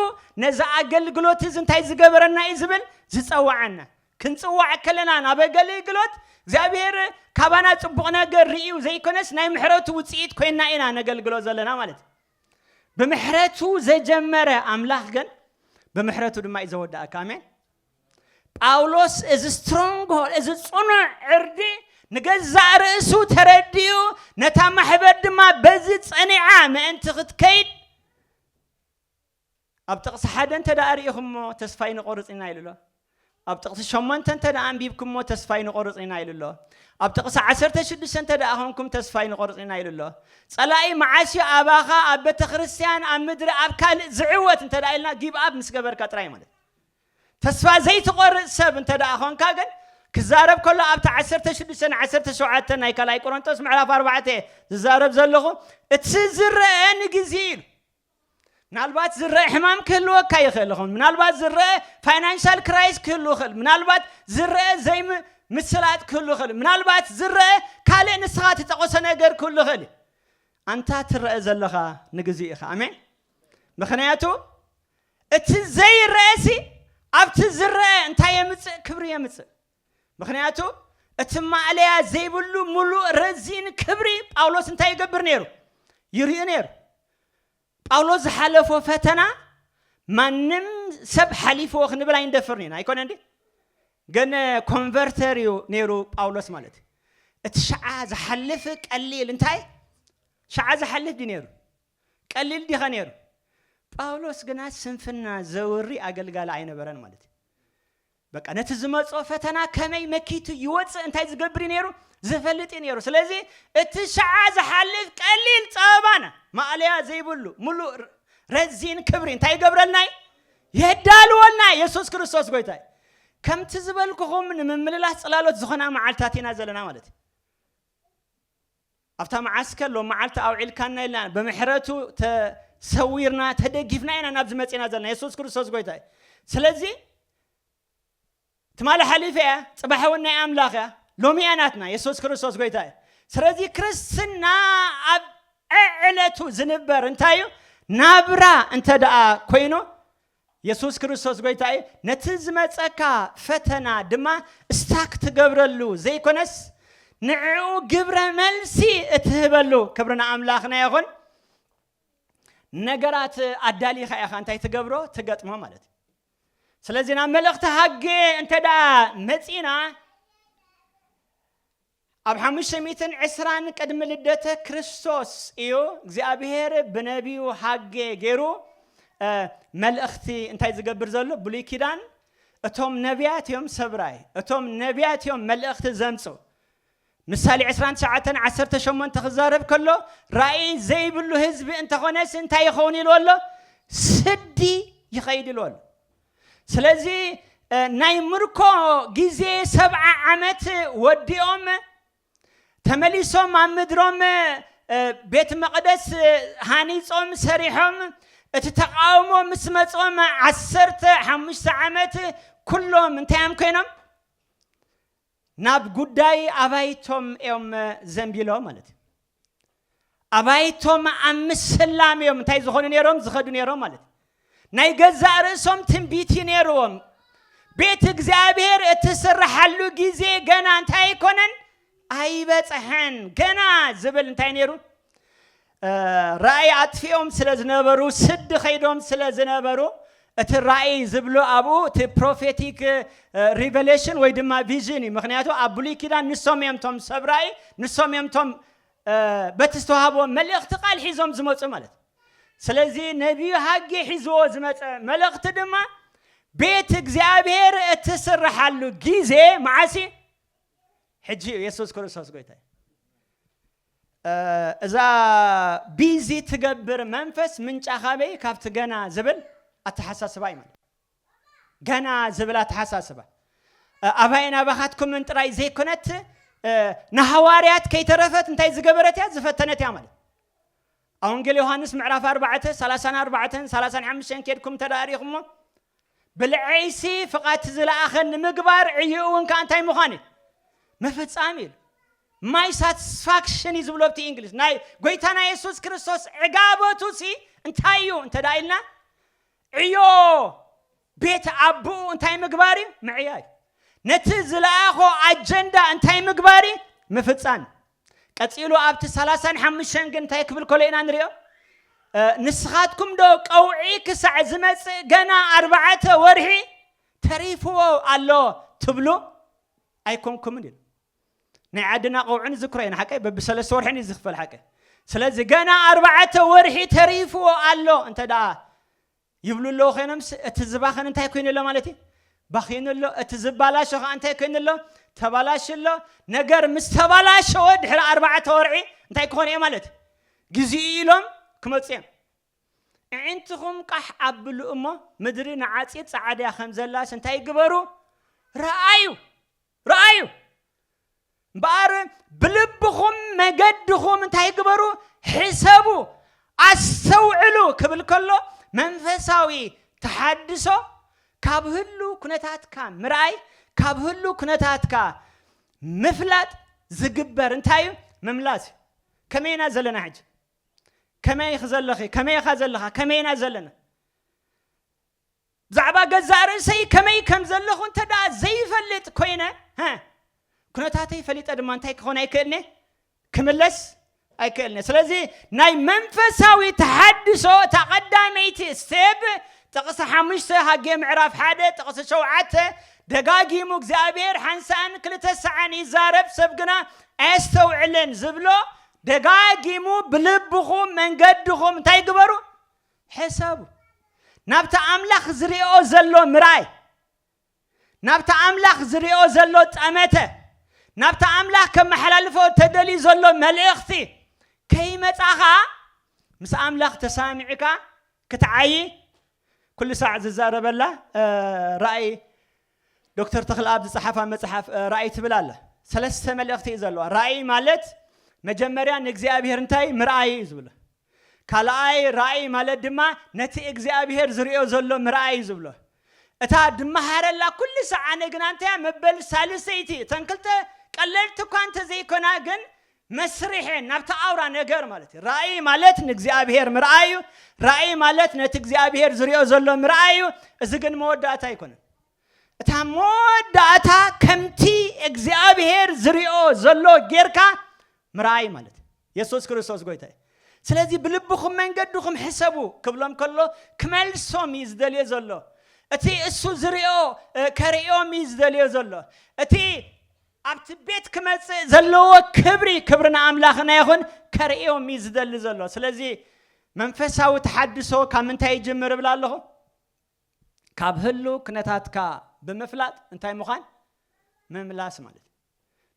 S1: ነዚ ኣገልግሎት እዚ እንታይ ዝገበረና እዩ ዝብል ዝፀዋዓና ክንፅዋዕ ከለና ናብ ኣገልግሎት እግዚኣብሔር ካባና ፅቡቕ ነገር ርእዩ ዘይኮነስ ናይ ምሕረቱ ውፅኢት ኮይና ኢና ነገልግሎ ዘለና ማለት እዩ ብምሕረቱ ዘጀመረ ኣምላኽ ግን ብምሕረቱ ድማ እዩ ዘወዳእካ ኣሜን ጳውሎስ እዚ ስትሮንግሆል እዚ ጽኑዕ ዕርዲ ንገዛእ ርእሱ ተረዲኡ ነታ ማሕበር ድማ በዚ ጸኒዓ ምእንቲ ክትከይድ ኣብ ጥቕሲ ሓደ እንተ ደኣ ርኢኹምሞ ተስፋ ይንቆርጽ ኢና ኢሉ ኣሎ ኣብ ጥቕሲ ሸሞንተ እንተ ደኣ ኣንቢብኩምሞ ተስፋ ይንቆርጽ ኢና ኢሉ ኣሎ ኣብ ጥቕሲ ዓሰርተ ሽዱሽተ እንተ ደኣ ኾንኩም ተስፋ ይንቆርጽ ኢና ኢሉ ኣሎ ጸላኢ መዓስ እዩ ኣባኻ ኣብ ቤተ ክርስቲያን ኣብ ምድሪ ኣብ ካልእ ዝዕወት እንተ ደኣ ኢልና ጊብ ኣብ ምስ ገበርካ ጥራይ ማለት ተስፋ ዘይትቖርጽ ሰብ እንተ ደኣ ዀንካ ግን፣ ክዛረብ ከሎ ኣብቲ ዓሰርተ ሽዱሽተ ን ዓሰርተ ሸውዓተ ናይ ካልኣይ ቈረንቶስ ምዕራፍ ኣርባዕተ እየ ዝዛረብ ዘለኹ፣ እቲ ዝረኣ ንግዜ እዩ ኢሉ። ምናልባት ዝረኣ ሕማም ክህልወካ ይኽእል ይኸውን፣ ምናልባት ዝረኣ ፋይናንሻል ክራይስ ክህሉ ይኽእል፣ ምናልባት ዝረኣ ዘይምስላጥ ክህሉ ይኽእል፣ ምናልባት ዝረኣ ካልእ ንስኻ እትጠቐሶ ነገር ክህሉ ይኽእል እዩ። ኣንታ ትረኣ ዘለኻ ንግዜ ኢኻ። ኣሜን። ምኽንያቱ እቲ ዘይረኤሲ ኣብቲ ዝረኤ እንታይ የምጽእ ክብሪ የምጽእ ምክንያቱ እቲ ማእለያ ዘይብሉ ምሉእ ረዚን ክብሪ ጳውሎስ እንታይ ይገብር ነይሩ ይርኢ ነይሩ ጳውሎስ ዝሓለፎ ፈተና ማንም ሰብ ሓሊፍዎ ክንብል ኣይንደፍርን ኢና ኣይኮነ እንዲ ግን ኮንቨርተር እዩ ነይሩ ጳውሎስ ማለት እዩ እቲ ሸዓ ዝሓልፍ ቀሊል እንታይ ሸዓ ዝሓልፍ ድዩ ነይሩ ቀሊል ዲኸ ነይሩ? ጳውሎስ ግና ስንፍና ዘውሪ ኣገልጋሊ ኣይነበረን ማለት እዩ። በቃ ነቲ ዝመጾ ፈተና ከመይ መኪቱ ይወጽእ እንታይ ዝገብር እዩ ነይሩ ዝፈልጥ እዩ ነይሩ። ስለዚ እቲ ሸዓ ዝሓልፍ ቀሊል ጸበባና ማእለያ ዘይብሉ ምሉእ ረዚን ክብሪ እንታይ ይገብረልና እዩ የዳልወልና። የሱስ ክርስቶስ ጎይታ እዩ። ከምቲ ዝበልኩኹም ንምምልላስ ጽላሎት ዝኾና መዓልትታት ኢና ዘለና ማለት እዩ። ኣብታ መዓስከር ሎሚ መዓልቲ ኣውዒልካና ኢልና ብምሕረቱ ተሰዊርና ተደጊፍና ኢና ናብዚ መጺና ዘለና የሱስ ክርስቶስ ጎይታ እዩ ስለዚ ትማሊ ሓሊፈ እያ ጽባሕ እውን ናይ ኣምላኽ እያ ሎሚ እያ ናትና የሱስ ክርስቶስ ጎይታ እዩ ስለዚ ክርስትና ኣብ ዕዕለቱ ዝንበር እንታይ እዩ ናብራ እንተ ደኣ ኮይኑ የሱስ ክርስቶስ ጎይታ እዩ፣ ነቲ ዝመጸካ ፈተና ድማ ስታክ ትገብረሉ ዘይኮነስ ንዕኡ ግብረ መልሲ እትህበሉ። ክብሪ ንኣምላኽና ይኹን። ነገራት ኣዳሊኻ ኢኻ እንታይ ትገብሮ ትገጥሞ ማለት እዩ። ስለዚ ናብ መልእኽቲ ሃጌ እንተ መጺና ኣብ ሓሙሽተ ሚእትን ዕስራን ቅድሚ ልደተ ክርስቶስ እዩ እግዚኣብሄር ብነቢዩ ሃጌ ገይሩ መልእኽቲ እንታይ ዝገብር ዘሎ ብሉይ ኪዳን እቶም ነቢያት እዮም ሰብራይ እቶም ነቢያት እዮም መልእኽቲ ዘምፁ ምሳሌ 29 18 ክዛረብ ከሎ ራእይ ዘይብሉ ህዝቢ እንተኾነስ እንታይ ይኸውን ኢልዎ ኣሎ ስዲ ይኸይድ ኢልዎ ኣሎ ስለዚ ናይ ምርኮ ግዜ ሰብዓ ዓመት ወዲኦም ተመሊሶም ኣብ ምድሮም ቤት መቕደስ ሃኒጾም ሰሪሖም እቲ ተቃውሞ ምስ መጾም ዓሰርተ ሓሙሽተ ዓመት ኩሎም እንታይ እዮም ኮይኖም ናብ ጉዳይ ኣባይቶም እዮም ዘንቢሎ ማለት እዩ። ኣባይቶም ኣብ ምስላም እዮም እንታይ ዝኾኑ ነይሮም ዝኸዱ ነይሮም ማለት እዩ። ናይ ገዛእ ርእሶም ትንቢት እዩ ነይርዎም። ቤት እግዚኣብሔር እትስራሓሉ ጊዜ ገና እንታይ ኣይኮነን ኣይበፅሐን ገና ዝብል እንታይ ነይሩ ራእይ ኣጥፊኦም ስለ ዝነበሩ ስዲ ከይዶም ስለ ዝነበሩ እቲ ራእይ ዝብሎ ኣብኡ እቲ ፕሮፌቲክ ሪቨሌሽን ወይ ድማ ቪዥን እዩ ምክንያቱ ኣብ ብሉይ ኪዳን ንሶም እዮም ቶም ሰብ ራእይ ንሶም እዮም ቶም በቲ ዝተዋሃብዎም መልእኽቲ ቃል ሒዞም ዝመፁ ማለት ስለዚ ነቢዩ ሃጌ ሒዝዎ ዝመፀ መልእኽቲ ድማ ቤት እግዚኣብሔር እትስርሓሉ ጊዜ መዓሲ ሕጂ እዩ የሱስ ክርስቶስ ጎይታ እዩ እዛ ቢዚ ትገብር መንፈስ ምንጫ ካበይ ካብቲ ገና ዝብል ኣተሓሳስባ እዩ ማለት ገና ዝብል ኣተሓሳስባ ኣባይን ኣባኻትኩምን ጥራይ ዘይኮነት ንሃዋርያት ከይተረፈት እንታይ ዝገበረት እያ ዝፈተነት እያ ማለት ኣብ ወንጌል ዮሃንስ ምዕራፍ 4 34 35 ኬድኩም ተዳሪኹሞ ብልዐይሲ ፍቓድቲ ዝለኣኸን ንምግባር ዕይኡውን ከኣ እንታይ ምዃን እዩ? ምፍጻም እዩ ኢሉ። My satisfaction እዩ ዝብሎ ኣብቲ እንግሊዝ። ናይ ጎይታና የሱስ ክርስቶስ ዕጋበቱሲ እንታይ እዩ እንተ ደኣ ኢልና ዕዮ ቤት ኣቦኡ እንታይ ምግባር እዩ? ምዕያይ። ነቲ ዝለኣኾ ኣጀንዳ እንታይ ምግባር እዩ? ምፍጻም። ቀጺሉ ኣብቲ ሰላሳን ሓሙሽተን ግን እንታይ ክብል ከሎ ኢና ንሪኦ? ንስኻትኩምዶ ቀውዒ ክሳዕ ዝመጽእ ገና ኣርባዕተ ወርሒ ተሪፍዎ ኣሎ ትብሉ ኣይኮንኩምን ኢሉ። ናይ ዓድና ቀውዒ ንዝክሮ ኢና ሓቀይ በብሰለስተ ወርሕን እዩ ዝኽፈል ሓቀይ። ስለዚ ገና ኣርባዕተ ወርሒ ተሪፍዎ ኣሎ እንተ ደኣ ይብሉ ኣለዉ ኮይኖምስ እቲ ዝባኸን እንታይ ኮይኑ ኣሎ ማለት እዩ? ባኺኑ ኣሎ። እቲ ዝባላሾ ከኣ እንታይ ኮይኑ ኣሎ? ተባላሹ ኣሎ። ነገር ምስ ተባላሸወ ድሕሪ ኣርባዕተ ወርዒ እንታይ ክኾኑ እየ ማለት እዩ? ግዜኡ ኢሎም ክመጹ እዮም። እዒንትኹም ቃሕ ኣብሉ እሞ ምድሪ ንዓጺድ ጸዓድያ ከም ዘላስ እንታይ ግበሩ ረኣዩ። ረኣዩ እምበኣር ብልብኹም መገድኹም እንታይ ግበሩ ሕሰቡ ኣስተውዕሉ ክብል ከሎ መንፈሳዊ ተሓድሶ ካብ ህሉ ኩነታትካ ምርኣይ ካብ ህሉ ኩነታትካ ምፍላጥ ዝግበር እንታይ እዩ ምምላስ እዩ ከመይ ኢና ዘለና ሕጂ ከመይ ኢኺ ዘለኺ ከመይ ኢኻ ዘለኻ ከመይ ኢና ዘለና ብዛዕባ ገዛእ ርእሰይ ከመይ ከም ዘለኹ እንተ ደኣ ዘይፈልጥ ኰይነ፣ ኵነታተይ ፈሊጠ ድማ እንታይ ክኸውን ኣይክእልን'የ? ክምለስ ኣይክእልን'የ። ስለዚ ናይ መንፈሳዊ ተሓድሶ እታ ቐዳመይቲ ስቴፕ፣ ጥቕሲ ሓሙሽተ ሃጌ ምዕራፍ ሓደ ጥቕሲ ሸውዓተ፣ ደጋጊሙ እግዚኣብሄር ሓንሳእን ክልተ ሳዕን ይዛረብ ሰብ ግና ኣየስተውዕልን ዝብሎ፣ ደጋጊሙ ብልብኹም መንገድኹም እንታይ ግበሩ? ሕሰቡ፣ ናብቲ ኣምላኽ ዝርእኦ ዘሎ ምርኣይ፣ ናብቲ ኣምላኽ ዝርእኦ ዘሎ ጠመተ፣ ናብቲ ኣምላኽ ከመሓላልፎ ተደልዩ ዘሎ መልእኽቲ ከይመጻኻ ምስ ኣምላኽ ተሰማሚዕካ ክትዓዪ ኩሉ ሳዕ ዝዛረበላ ራእይ ዶክተር ተኽለኣብ ዝጸሓፋ መጽሓፍ ራእይ ትብል ኣላ። ሰለስተ መልእኽቲ እዩ ዘለዋ። ራእይ ማለት መጀመርያ ንእግዚኣብሄር እንታይ ምርኣይ እዩ ዝብሎ። ካልኣይ ራእይ ማለት ድማ ነቲ እግዚኣብሄር ዝርእዮ ዘሎ ምርኣይ እዩ ዝብሎ። እታ ድመሃረላ ኩሉ ሰዓነ ግና እንታይ እያ መበል ሳልሰይቲ እተን ክልተ ቀለልቲ እኳ እንተዘይኮና ግን መስርሔ ናብቲ ኣውራ ነገር ማለት እዩ። ራእይ ማለት ንእግዚኣብሔር ምርኣይ እዩ። ራእይ ማለት ነቲ እግዚኣብሔር ዝሪኦ ዘሎ ምርኣይ እዩ። እዚ ግን መወዳእታ ኣይኮነን። እታ መወዳእታ ከምቲ እግዚኣብሔር ዝሪኦ ዘሎ ጌርካ ምርኣይ ማለት እዩ። የሱስ ክርስቶስ ጎይታ እዩ። ስለዚ ብልብኹም መንገድኹም ሕሰቡ ክብሎም ከሎ ክመልሶም እዩ ዝደልዮ ዘሎ እቲ እሱ ዝሪኦ እ፣ ከርእዮም እዩ ዝደልዮ ዘሎ እቲ ኣብቲ ቤት ክመጽእ ዘለዎ ክብሪ ክብሪ ንኣምላኽና ይኹን ከርእዮም እዩ ዝደሊ ዘሎ። ስለዚ መንፈሳዊ ተሓድሶ ካብ ምንታይ ይጅምር እብል ኣለኹ? ካብ ህሉ ክነታትካ ብምፍላጥ እንታይ ምዃን ምምላስ ማለት እዩ።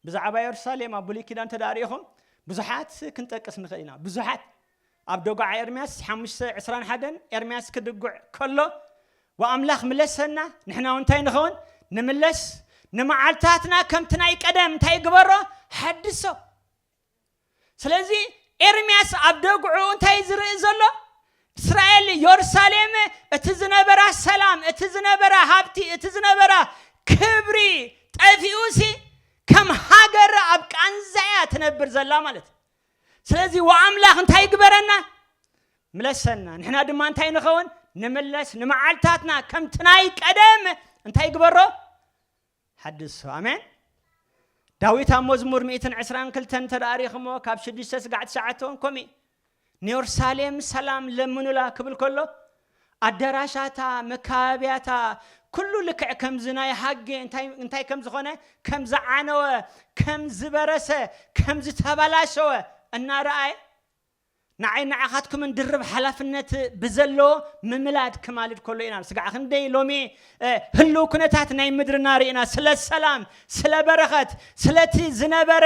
S1: ብዛዕባ የሩሳሌም ኣብ ብሉይ ኪዳን እንተ ርኢኹም ብዙሓት ክንጠቅስ ንኽእል ኢና። ብዙሓት ኣብ ደጉዓ ኤርምያስ ሓሙሽተ ዕስራን ሓደን ኤርምያስ ክድጉዕ ከሎ ወኣምላኽ ምለሰና ንሕናውን እንታይ ንኸውን ንምለስ ንመዓልታትና ከምቲ ናይ ቀደም እንታይ ግበሮ ሓድሶ ስለዚ ኤርምያስ ኣብ ደግዑ እንታይ ዝርኢ ዘሎ እስራኤል ዮርሳሌም እቲ ዝነበራ ሰላም እቲ ዝነበራ ሃብቲ እቲ ዝነበራ ክብሪ ጠፊኡ ሲ ከም ሃገር ኣብ ቃንዛ እያ ትነብር ዘላ ማለት እዩ ስለዚ ወኣምላኽ እንታይ ይግበረና? ምለሰና። ንሕና ድማ እንታይ ንኸውን? ንምለስ፣ ንመዓልታትና ከምቲ ናይ ቀደም እንታይ ይግበሮ? ሓድሶ። ኣሜን። ዳዊት ኣብ መዝሙር 122 እንተ ኣሪኽሞ ካብ ሽዱሽተ ስጋዕ ትሽዓተ እውን ከምኡ ንዮርሳሌም ሰላም ለምኑላ ክብል ከሎ ኣደራሻታ፣ መካበብያታ፣ ኩሉ ልክዕ ከምዚ ናይ ሃጌ እንታይ እንታይ ከም ዝኾነ፣ ከም ዝዓነወ፣ ከም ዝበረሰ፣ ከም ዝተበላሸወ እናረኣየ፣ ንዓይን ንዓኻትኩምን ድርብ ሓላፍነት ብዘለዎ ምምላድ ክማልድ ከሎ ኢና። ስጋዕ ክንደይ ሎሚ ህሉው ኩነታት ናይ ምድርና ርኢና፣ ስለ ሰላም፣ ስለ በረኸት፣ ስለቲ ዝነበረ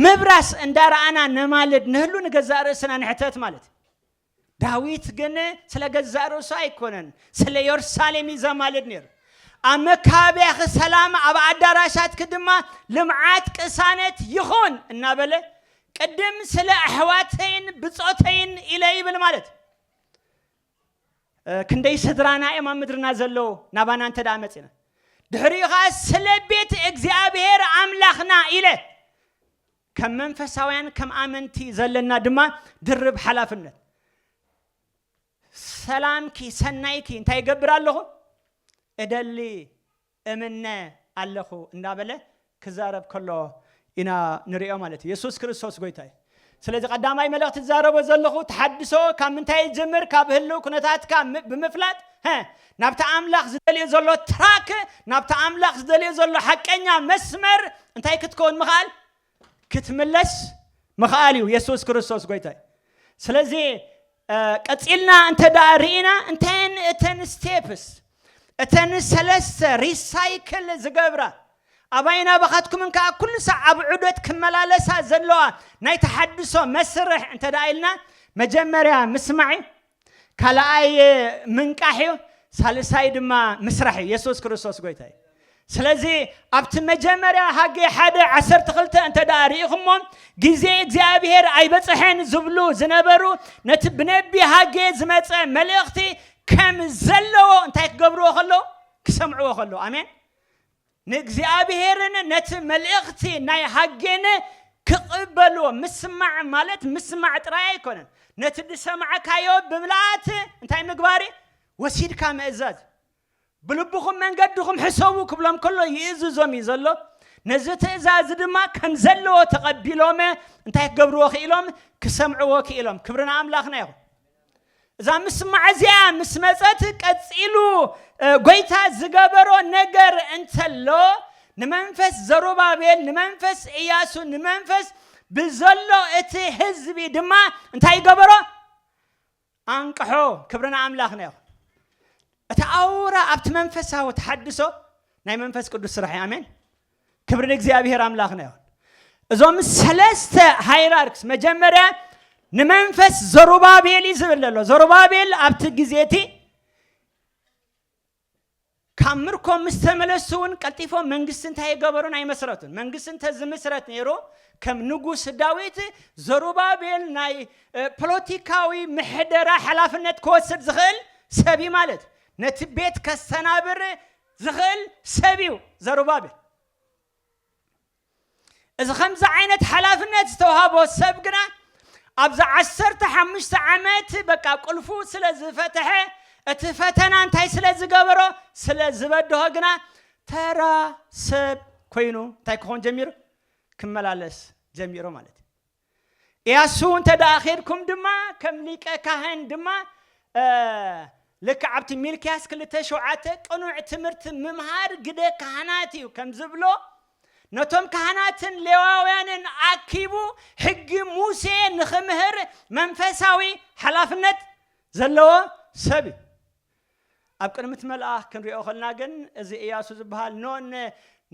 S1: ምብራስ እንዳረኣና ነማልድ፣ ንህሉ ንገዛእ ርእስና ንሕተት ማለት እዩ። ዳዊት ግን ስለ ገዛእ ርእሱ ኣይኮነን ስለ ዮርሳሌም እዩ ዘማልድ ነይሩ። ኣብ መካበብያኺ ሰላም ኣብ ኣዳራሻትኪ ድማ ልምዓት ቅሳነት ይኹን እናበለ ቅድም ስለ ኣሕዋተይን ብጾተይን ኢለ ይብል ማለት ክንደይ ስድራና እዮም ኣብ ምድርና ዘለዎ ናባና እንተ ደኣ መጺና ድሕሪኡ ከዓ ስለ ቤት እግዚኣብሔር ኣምላኽና ኢለ ከም መንፈሳውያን ከም ኣመንቲ ዘለና ድማ ድርብ ሓላፍነት ሰላምኪ ሰናይኪ እንታይ ይገብር ኣለኹ እደሊ እምነ ኣለኹ እንዳበለ ክዛረብ ከሎ ኢና ንሪኦ ማለት እዩ የሱስ ክርስቶስ ጎይታ እዩ ስለዚ ቀዳማይ መልእኽቲ ዝዛረቦ ዘለኹ ተሓድሶ ካብ ምንታይ ይጅምር ካብ ህልው ኩነታትካ ም- ብምፍላጥ ሀ ናብቲ ኣምላኽ ዝደልዮ ዘሎ ትራክ፣ ናብቲ ኣምላኽ ዝደልዮ ዘሎ ሓቀኛ መስመር እንታይ ክትከውን ምኽኣል? ክትምለስ ምኽኣል እዩ። የሱስ ክርስቶስ ጎይታ እዩ። ስለዚ ቀጺልና እንተ ደኣ ርኢና እንታየን እተን ስቴፕስ እተን ሰለስተ ሪሳይክል ዝገብራ ኣባይን ኣባኻትኩምን ከዓ ኩሉ ሳዕ ኣብ ዑደት ክመላለሳ ዘለዋ ናይ ተሓድሶ መስርሕ እንተ ደኣ ኢልና መጀመርያ ምስማዕ እዩ። ካልኣይ ምንቃሕ እዩ፣ ሳልሳይ ድማ ምስራሕ እዩ። የሱስ ክርስቶስ ጎይታ እዩ። ስለዚ ኣብቲ መጀመርያ ሃጌ ሓደ ዓሰርተ ክልተ እንተ ደኣ ርኢኹሞ ግዜ እግዚኣብሄር ኣይበጽሐን ዝብሉ ዝነበሩ ነቲ ብነቢ ሃጌ ዝመጸ መልእኽቲ ከም ዘለዎ እንታይ ክገብርዎ ከለዉ ክሰምዕዎ ከለዉ ኣሜን ንእግዚኣብሔርን ነቲ መልእኽቲ ናይ ሃጌን ክቕበልዎ ምስማዕ ማለት ምስማዕ ጥራይ ኣይኮነን፣ ነቲ ዝሰማዕካዮ ብምልኣት እንታይ ምግባር እዩ? ወሲድካ ምእዛዝ። ብልብኹም መንገድኹም ሕሰቡ ክብሎም ከሎ ይእዝዞም እዩ ዘሎ፣ ነዚ ትእዛዝ ድማ ከም ዘለዎ ተቐቢሎም እንታይ ክገብርዎ ክኢሎም? ክሰምዕዎ ክኢሎም። ክብሪ ንኣምላኽና ይኹን። እዛ ምስማዕ እዚኣ ምስ መጸት ቀጺሉ ጎይታ ዝገበሮ ነገር እንተሎ ንመንፈስ ዘሩባቤል ንመንፈስ እያሱ ንመንፈስ ብዘሎ እቲ ህዝቢ ድማ እንታይ ይገበሮ ኣንቅሖ ክብሪ ንኣምላኽና ይኹን እቲ ኣውራ ኣብቲ መንፈሳዊ ተሓድሶ ናይ መንፈስ ቅዱስ ስራሕ እዩ ኣሜን ክብሪ ንእግዚኣብሔር ኣምላኽና ይኹን እዞም ሰለስተ ሃይራርክስ መጀመርያ ንመንፈስ ዘሩባቤል እዩ ዝብል ዘሎ ዘሩባቤል ኣብቲ ግዜ እቲ ካብ ምርኮ ምስ ተመለሱ እውን ቀልጢፎም መንግስቲ እንታይ የገበሩን ኣይመስረቱን መንግስቲ እንተ ዝምስረት ነይሩ ከም ንጉስ ዳዊት ዘሩባቤል ናይ ፖለቲካዊ ምሕደራ ሓላፍነት ክወስድ ዝኽእል ሰብ እዩ ማለት ነቲ ቤት ከስተናብር ዝኽእል ሰብ እዩ ዘሩባቤል። እዚ ከምዚ ዓይነት ሓላፍነት ዝተውሃቦ ሰብ ግና ኣብዚ ዓሰርተ ሓሙሽተ ዓመት በቃ ቁልፉ ስለ ዝፈተሐ እቲ ፈተና እንታይ ስለ ዝገበሮ ስለ ዝበድሆ ግና ተራ ሰብ ኮይኑ እንታይ ክኾን ጀሚሩ ክመላለስ ጀሚሩ ማለት እዩ። ኢያሱ እንተ ደኣ ኬድኩም ድማ ከም ሊቀ ካህን ድማ ልክዕ ኣብቲ ሚልክያስ ክልተ ሸውዓተ ቅኑዕ ትምህርቲ ምምሃር ግደ ካህናት እዩ ከም ዝብሎ ነቶም ካህናትን ሌዋውያንን ኣኪቡ ሕጊ ሙሴ ንኽምህር መንፈሳዊ ሓላፍነት ዘለዎ ሰብ እዩ። ኣብ ቅድምት መልኣኽ ክንሪኦ ከልና ግን እዚ እያሱ ዝብሃል ን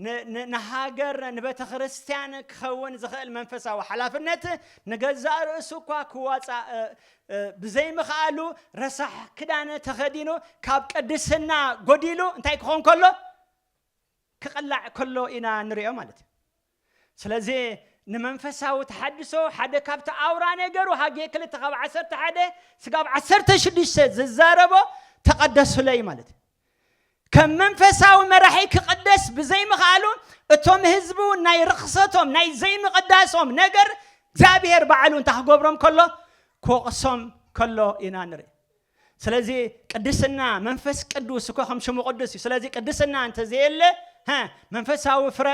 S1: ን ን ንሃገር ንቤተክርስትያን ክኸውን ዝኽእል መንፈሳዊ ሓላፍነት ንገዛእ ርእሱ እኳ ክዋጻእ ብዘይምኽኣሉ ረሳሕ ክዳን ተኸዲኑ ካብ ቅድስና ጎዲሉ እንታይ ክኾን ከሎ ክቕላዕ ከሎ ኢና ንሪኦ ማለት እዩ። ስለዚ ንመንፈሳዊ ተሓድሶ ሓደ ካብቲ ኣውራ ነገሩ ሃጌ ክልተ ካብ ዓሰርተ ሓደ ስጋብ ዓሰርተ ሽዱሽተ ዝዛረቦ ተቐደሱለይ ማለት እዩ። ከም መንፈሳዊ መራሒ ክቕደስ ብዘይምኽኣሉ እቶም ህዝቡ ናይ ርኽሰቶም ናይ ዘይምቕዳሶም ነገር እግዚኣብሄር ባዕሉ እንታይ ክገብሮም ከሎ ክወቕሶም ከሎ ኢና ንርኢ። ስለዚ ቅድስና መንፈስ ቅዱስ እኮ ከም ሽሙ ቅዱስ እዩ ስለዚ ቅድስና እንተ ዘየለ ሀ መንፈሳዊ ፍረ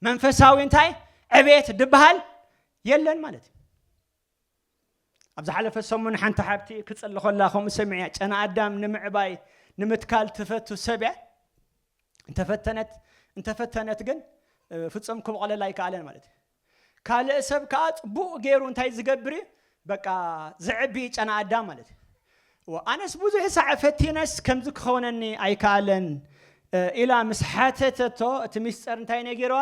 S1: መንፈሳዊ እንታይ ዕቤት ድበሃል የለን ማለት እዩ ኣብ ዝሓለፈ ሰሙን ሓንቲ ሓብቲ ክፅሊ ከላ ከምኡ ሰሚዕያ ጨና ኣዳም ንምዕባይ ንምትካል ትፈቱ ሰብ እያ እንተፈተነት እንተፈተነት ግን እ፣ ፍጹም ክብቆለላ ኣይከኣለን ማለት እዩ ካልእ ሰብ ከኣ ጽቡቅ ጌሩ እንታይ ዝገብር እዩ በቃ ዘዕቢ እዩ ጨና ኣዳም ማለት እዩ እወ ኣነስ ብዙሕ ሳዕ ፈቲነስ ከምዚ ክኸውነኒ ኣይከኣለን ኢላ ምስ ሓተተቶ እቲ ሚስጥር እንታይ ነጊርዋ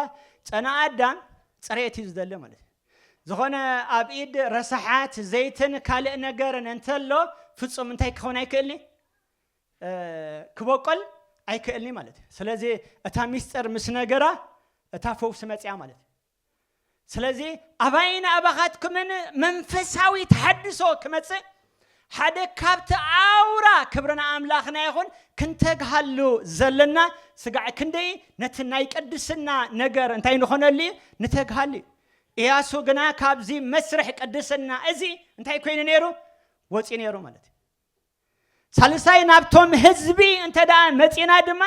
S1: ጨና ኣዳም ጽሬት እዩ ዝደሊ ማለት እዩ ዝኾነ ኣብ ኢድ ረሳሓት ዘይትን ካልእ ነገርን እንተሎ ፍጹም እንታይ ክኸውን ኣይክእልኒ ክበቆል ኣይክእልንዩ ማለት እዩ ስለዚ እታ ሚስጥር ምስ ነገራ እታ ፈውሲ መፅያ ማለት እዩ ስለዚ ኣባይን ኣባኻትኩምን መንፈሳዊ ተሐድሶ ክመፅእ ሓደ ካብቲ ኣውራ ክብርና ኣምላኽና ይኹን ክንተግሃሉ ዘለና ስጋዕ ክንደይ ነቲ ናይ ቅድስና ነገር እንታይ ንኾነሉ እዩ ንተግሃሉ እዩ እያሱ ግና ካብዚ መስርሕ ቅድስና እዚ እንታይ ኮይኑ ነይሩ ወፂኡ ነይሩ ማለት እዩ ሳልሳይ ናብቶም ህዝቢ እንተደኣ መጺና ድማ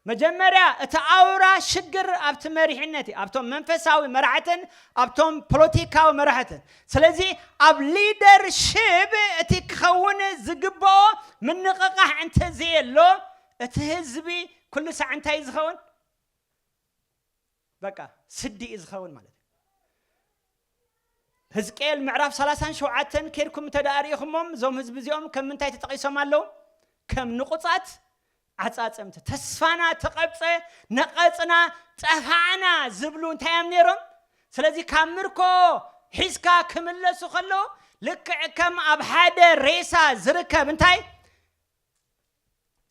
S1: መጀመርያ እቲ ኣውራ ሽግር ኣብቲ መሪሕነት እዩ፣ ኣብቶም መንፈሳዊ መራሕትን ኣብቶም ፖለቲካዊ መራሕትን። ስለዚ ኣብ ሊደርሺፕ እቲ ክኸውን ዝግበኦ ምንቕቓሕ እንተዘየሎ እቲ ህዝቢ ኩሉ ሳዕ እንታይ እዩ ዝኸውን? በቃ ስዲ እዩ ዝኸውን ማለት እዩ። ህዝቅኤል ምዕራፍ ሰላሳን ሸውዓተን ኬድኩም እንተ ደኣ ርኢኹሞም እዞም ህዝቢ እዚኦም ከም ምንታይ ተጠቒሶም ኣለዉ ከም ንቑጻት ዓጻጸምቲ ተስፋና ተቐብጸ ነቐጽና ጠፋዕና ዝብሉ እንታይ እዮም ነይሮም ስለዚ ካብ ምርኮ ሒዝካ ክምለሱ ከለዉ ልክዕ ከም ኣብ ሓደ ሬሳ ዝርከብ እንታይ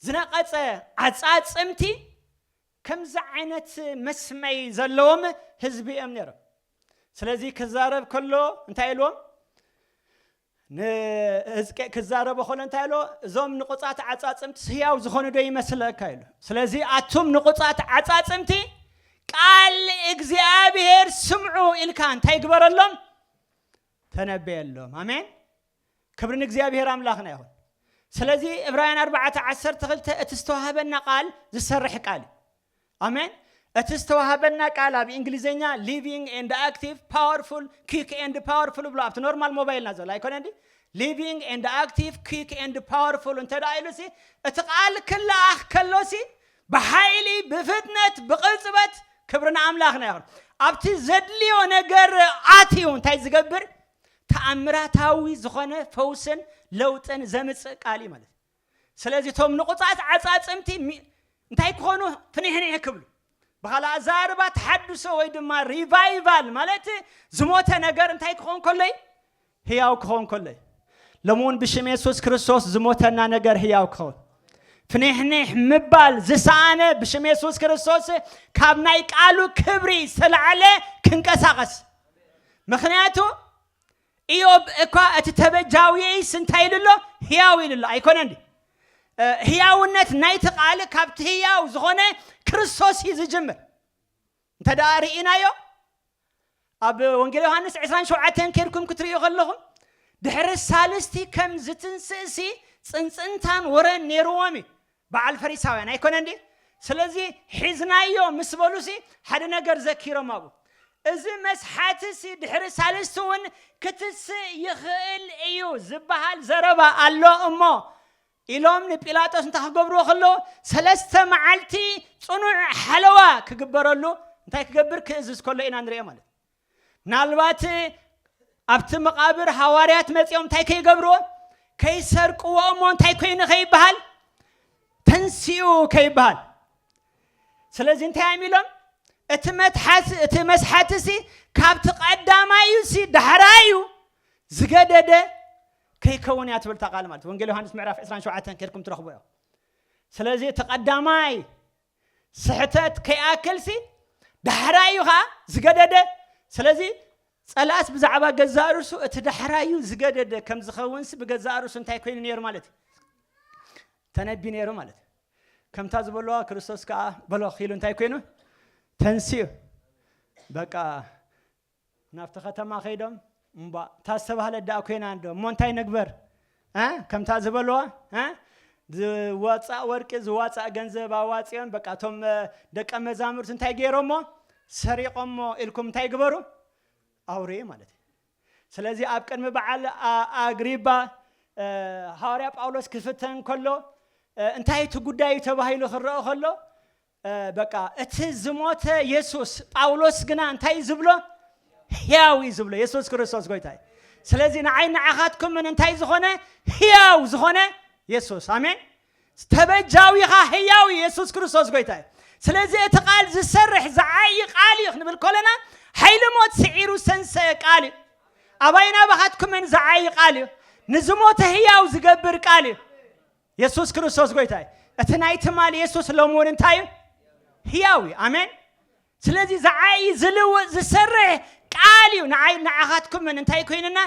S1: ዝነቐጸ ዓጻጽምቲ ከምዚ ዓይነት መስመይ ዘለዎም ህዝቢ እዮም ነይሮም። ስለዚ ክዛረብ ከሎ እንታይ ኢልዎም? ንህዝቄ ክዛረቦ ከሎ እንታይ ኢልዎ? እዞም ንቑጻት ዓጻጽምትስ ህያው ዝኾኑ ዶ ይመስለካ ኢሉ። ስለዚ ኣቱም ንቑጻት ዓጻጽምቲ ቃል እግዚኣብሄር ስምዑ ኢልካ እንታይ ግበረሎም? ተነበየሎም። ኣሜን። ክብሪ ንእግዚኣብሄር ኣምላኽና ይኹን። ስለዚ ዕብራውያን ኣርባዕተ ዓሰርተ ክልተ እቲ ዝተዋህበና ቃል ዝሰርሕ ቃል እዩ። ኣሜን። እቲ ዝተዋህበና ቃል ኣብ እንግሊዘኛ ሊቪንግ ኤንድ ኣክቲቭ ፓወርፉል ኪክ ኤንድ ፓወርፉል ብሎ ኣብቲ ኖርማል ሞባይልና ዘሎ ኣይኮነን ድዩ? ሊቪንግ ኤንድ ኣክቲቭ ኪክ ኤንድ ፓወርፉል እንተ ደኣ ኢሉሲ እቲ ቃል ክለኣኽ ከሎሲ ብሓይሊ ብፍጥነት ብቕልጽበት ክብሪ ንኣምላኽና ይኹን ኣብቲ ዘድልዮ ነገር ኣትዩ እንታይ ዝገብር ተኣምራታዊ ዝኾነ ፈውስን ለውጥን ዘምጽእ ቃል እዩ ማለት እዩ ስለዚ እቶም ንቑፃት ዓፃፅምቲ እንታይ ክኾኑ ፍኒሕኒሕ ክብሉ ብካልእ ኣዘራርባ ተሓድሶ ወይ ድማ ሪቫይቫል ማለት ዝሞተ ነገር እንታይ ክኸውን ከሎ እዩ ህያው ክኸውን ከሎ እዩ ሎሚ እውን ብሽም የሱስ ክርስቶስ ዝሞተና ነገር ህያው ክኸውን ፍኒሕኒሕ ምባል ዝሰኣነ ብሽም የሱስ ክርስቶስ ካብ ናይ ቃሉ ክብሪ ዝተላዕለ ክንቀሳቐስ ምኽንያቱ ኢዮብ እኳ እቲ ተበጃውየይስ እንታይ ኢሉ ኣሎ? ህያው ኢሉ ኣሎ ኣይኮነን ድዩ? ህያውነት ናይቲ ቃል ካብቲ ህያው ዝኾነ ክርስቶስ እዩ ዝጅምር። እንተ ደኣ ርኢናዮ ኣብ ወንጌል ዮሃንስ 27 ኬድኩም ክትርእዩ ከለኹም ድሕሪ ሳልስቲ ከም ዝትንስእሲ ፅንፅንታን ወረን ነይርዎም እዩ። በዓል ፈሪሳውያን ኣይኮነን ድዩ? ስለዚ ሒዝናዮ ምስ በሉሲ ሓደ ነገር ዘኪሮም ኣብኡ እዚ መስሓትሲ ድሕሪ ሳልስቲ እውን ክትስእ ይኽእል እዩ ዝበሃል ዘረባ ኣሎ እሞ ኢሎም ንጲላጦስ እንታይ ክገብርዎ ከለዉ ሰለስተ መዓልቲ ጽኑዕ ሓለዋ ክግበረሉ እንታይ ክገብር ክእዝዝ ከሎ ኢና ንርእዮ ማለት እዩ። ምናልባት ኣብቲ መቓብር ሃዋርያት መጺኦም እንታይ ከይገብርዎ ከይሰርቅዎ እሞ እንታይ ኮይኑ ከይበሃል ተንስኡ ከይበሃል ስለዚ እንታይ እዮም ኢሎም እቲ መትሓዚ እቲ መስሓቲ ሲ ካብቲ ቀዳማይ እዩ ሲ ዳሕራይ እዩ ዝገደደ ከይከውን እያ ትብል ቃል ማለት ወንጌል ዮሃንስ ምዕራፍ 27 ከድኩም ትረኽቦ እዮ ስለዚ እቲ ቀዳማይ ስሕተት ከይኣክልሲ ዳሕራይ እዩ ከኣ ዝገደደ። ስለዚ ጸላእስ ብዛዕባ ገዛእ ርእሱ እቲ ዳሕራይ እዩ ዝገደደ ከም ዝኸውንሲ ብገዛእ ርእሱ እንታይ ኮይኑ ነይሩ ማለት እዩ? ተነቢ ነይሩ ማለት እዩ። ከምታ ዝበለዋ ክርስቶስ ከኣ በሎ ኪሉ እንታይ ኮይኑ ተንስኡ በቃ ናብቲ ከተማ ከይዶም እምቧእ እታ ዝተባህለት ደኣ ኮይና እንዶ እሞ እንታይ ንግበር እ ከምታ ዝበልዋ እ ዝወፃእ ወርቂ ዝዋፃእ ገንዘብ ኣዋፂኦም በቃ እቶም እ፣ ደቀ መዛሙርት እንታይ ገይሮሞ ሰሪቆሞ ኢልኩም እንታይ ግበሩ ኣውሬ ማለት እዩ ስለዚ ኣብ ቅድሚ በዓል ኣ- ኣግሪባ እ፣ ሃዋርያ ጳውሎስ ክፍተን ከሎ እ፣ እንታይ እቲ ጉዳይ እዩ ተባሂሉ ክረአ ከሎ በቃ እቲ ዝሞተ የሱስ ጳውሎስ ግና እንታይ እዩ ዝብሎ ህያው እዩ ዝብሎ የሱስ ክርስቶስ ጎይታ እዩ ስለዚ ንዓይ ንዓኻትኩምን እንታይ ዝኾነ ህያው ዝኾነ የሱስ ኣሜን ተበጃዊኻ ህያው እዩ የሱስ ክርስቶስ ጎይታ እዩ ስለዚ እቲ ቃል ዝሰርሕ ዝዓይ ቃል እዩ ክንብል ከለና ሓይሊ ሞት ስዒሩ ሰንሰ ቃል እዩ ኣባይና ባኻትኩምን ዝዓይ ቃል እዩ ንዝሞተ ህያው ዝገብር ቃል እዩ የሱስ ክርስቶስ ጎይታ እዩ። እቲ ናይ ትማሊ የሱስ ሎሚ እውን እንታይ እዩ? ህያው እዩ። ኣሜን። ስለዚ ዝዓይ ዝልውጥ ዝሰርሕ ቃል እዩ ንዓይ ንዓኻትኩምን እንታይ ኮይንና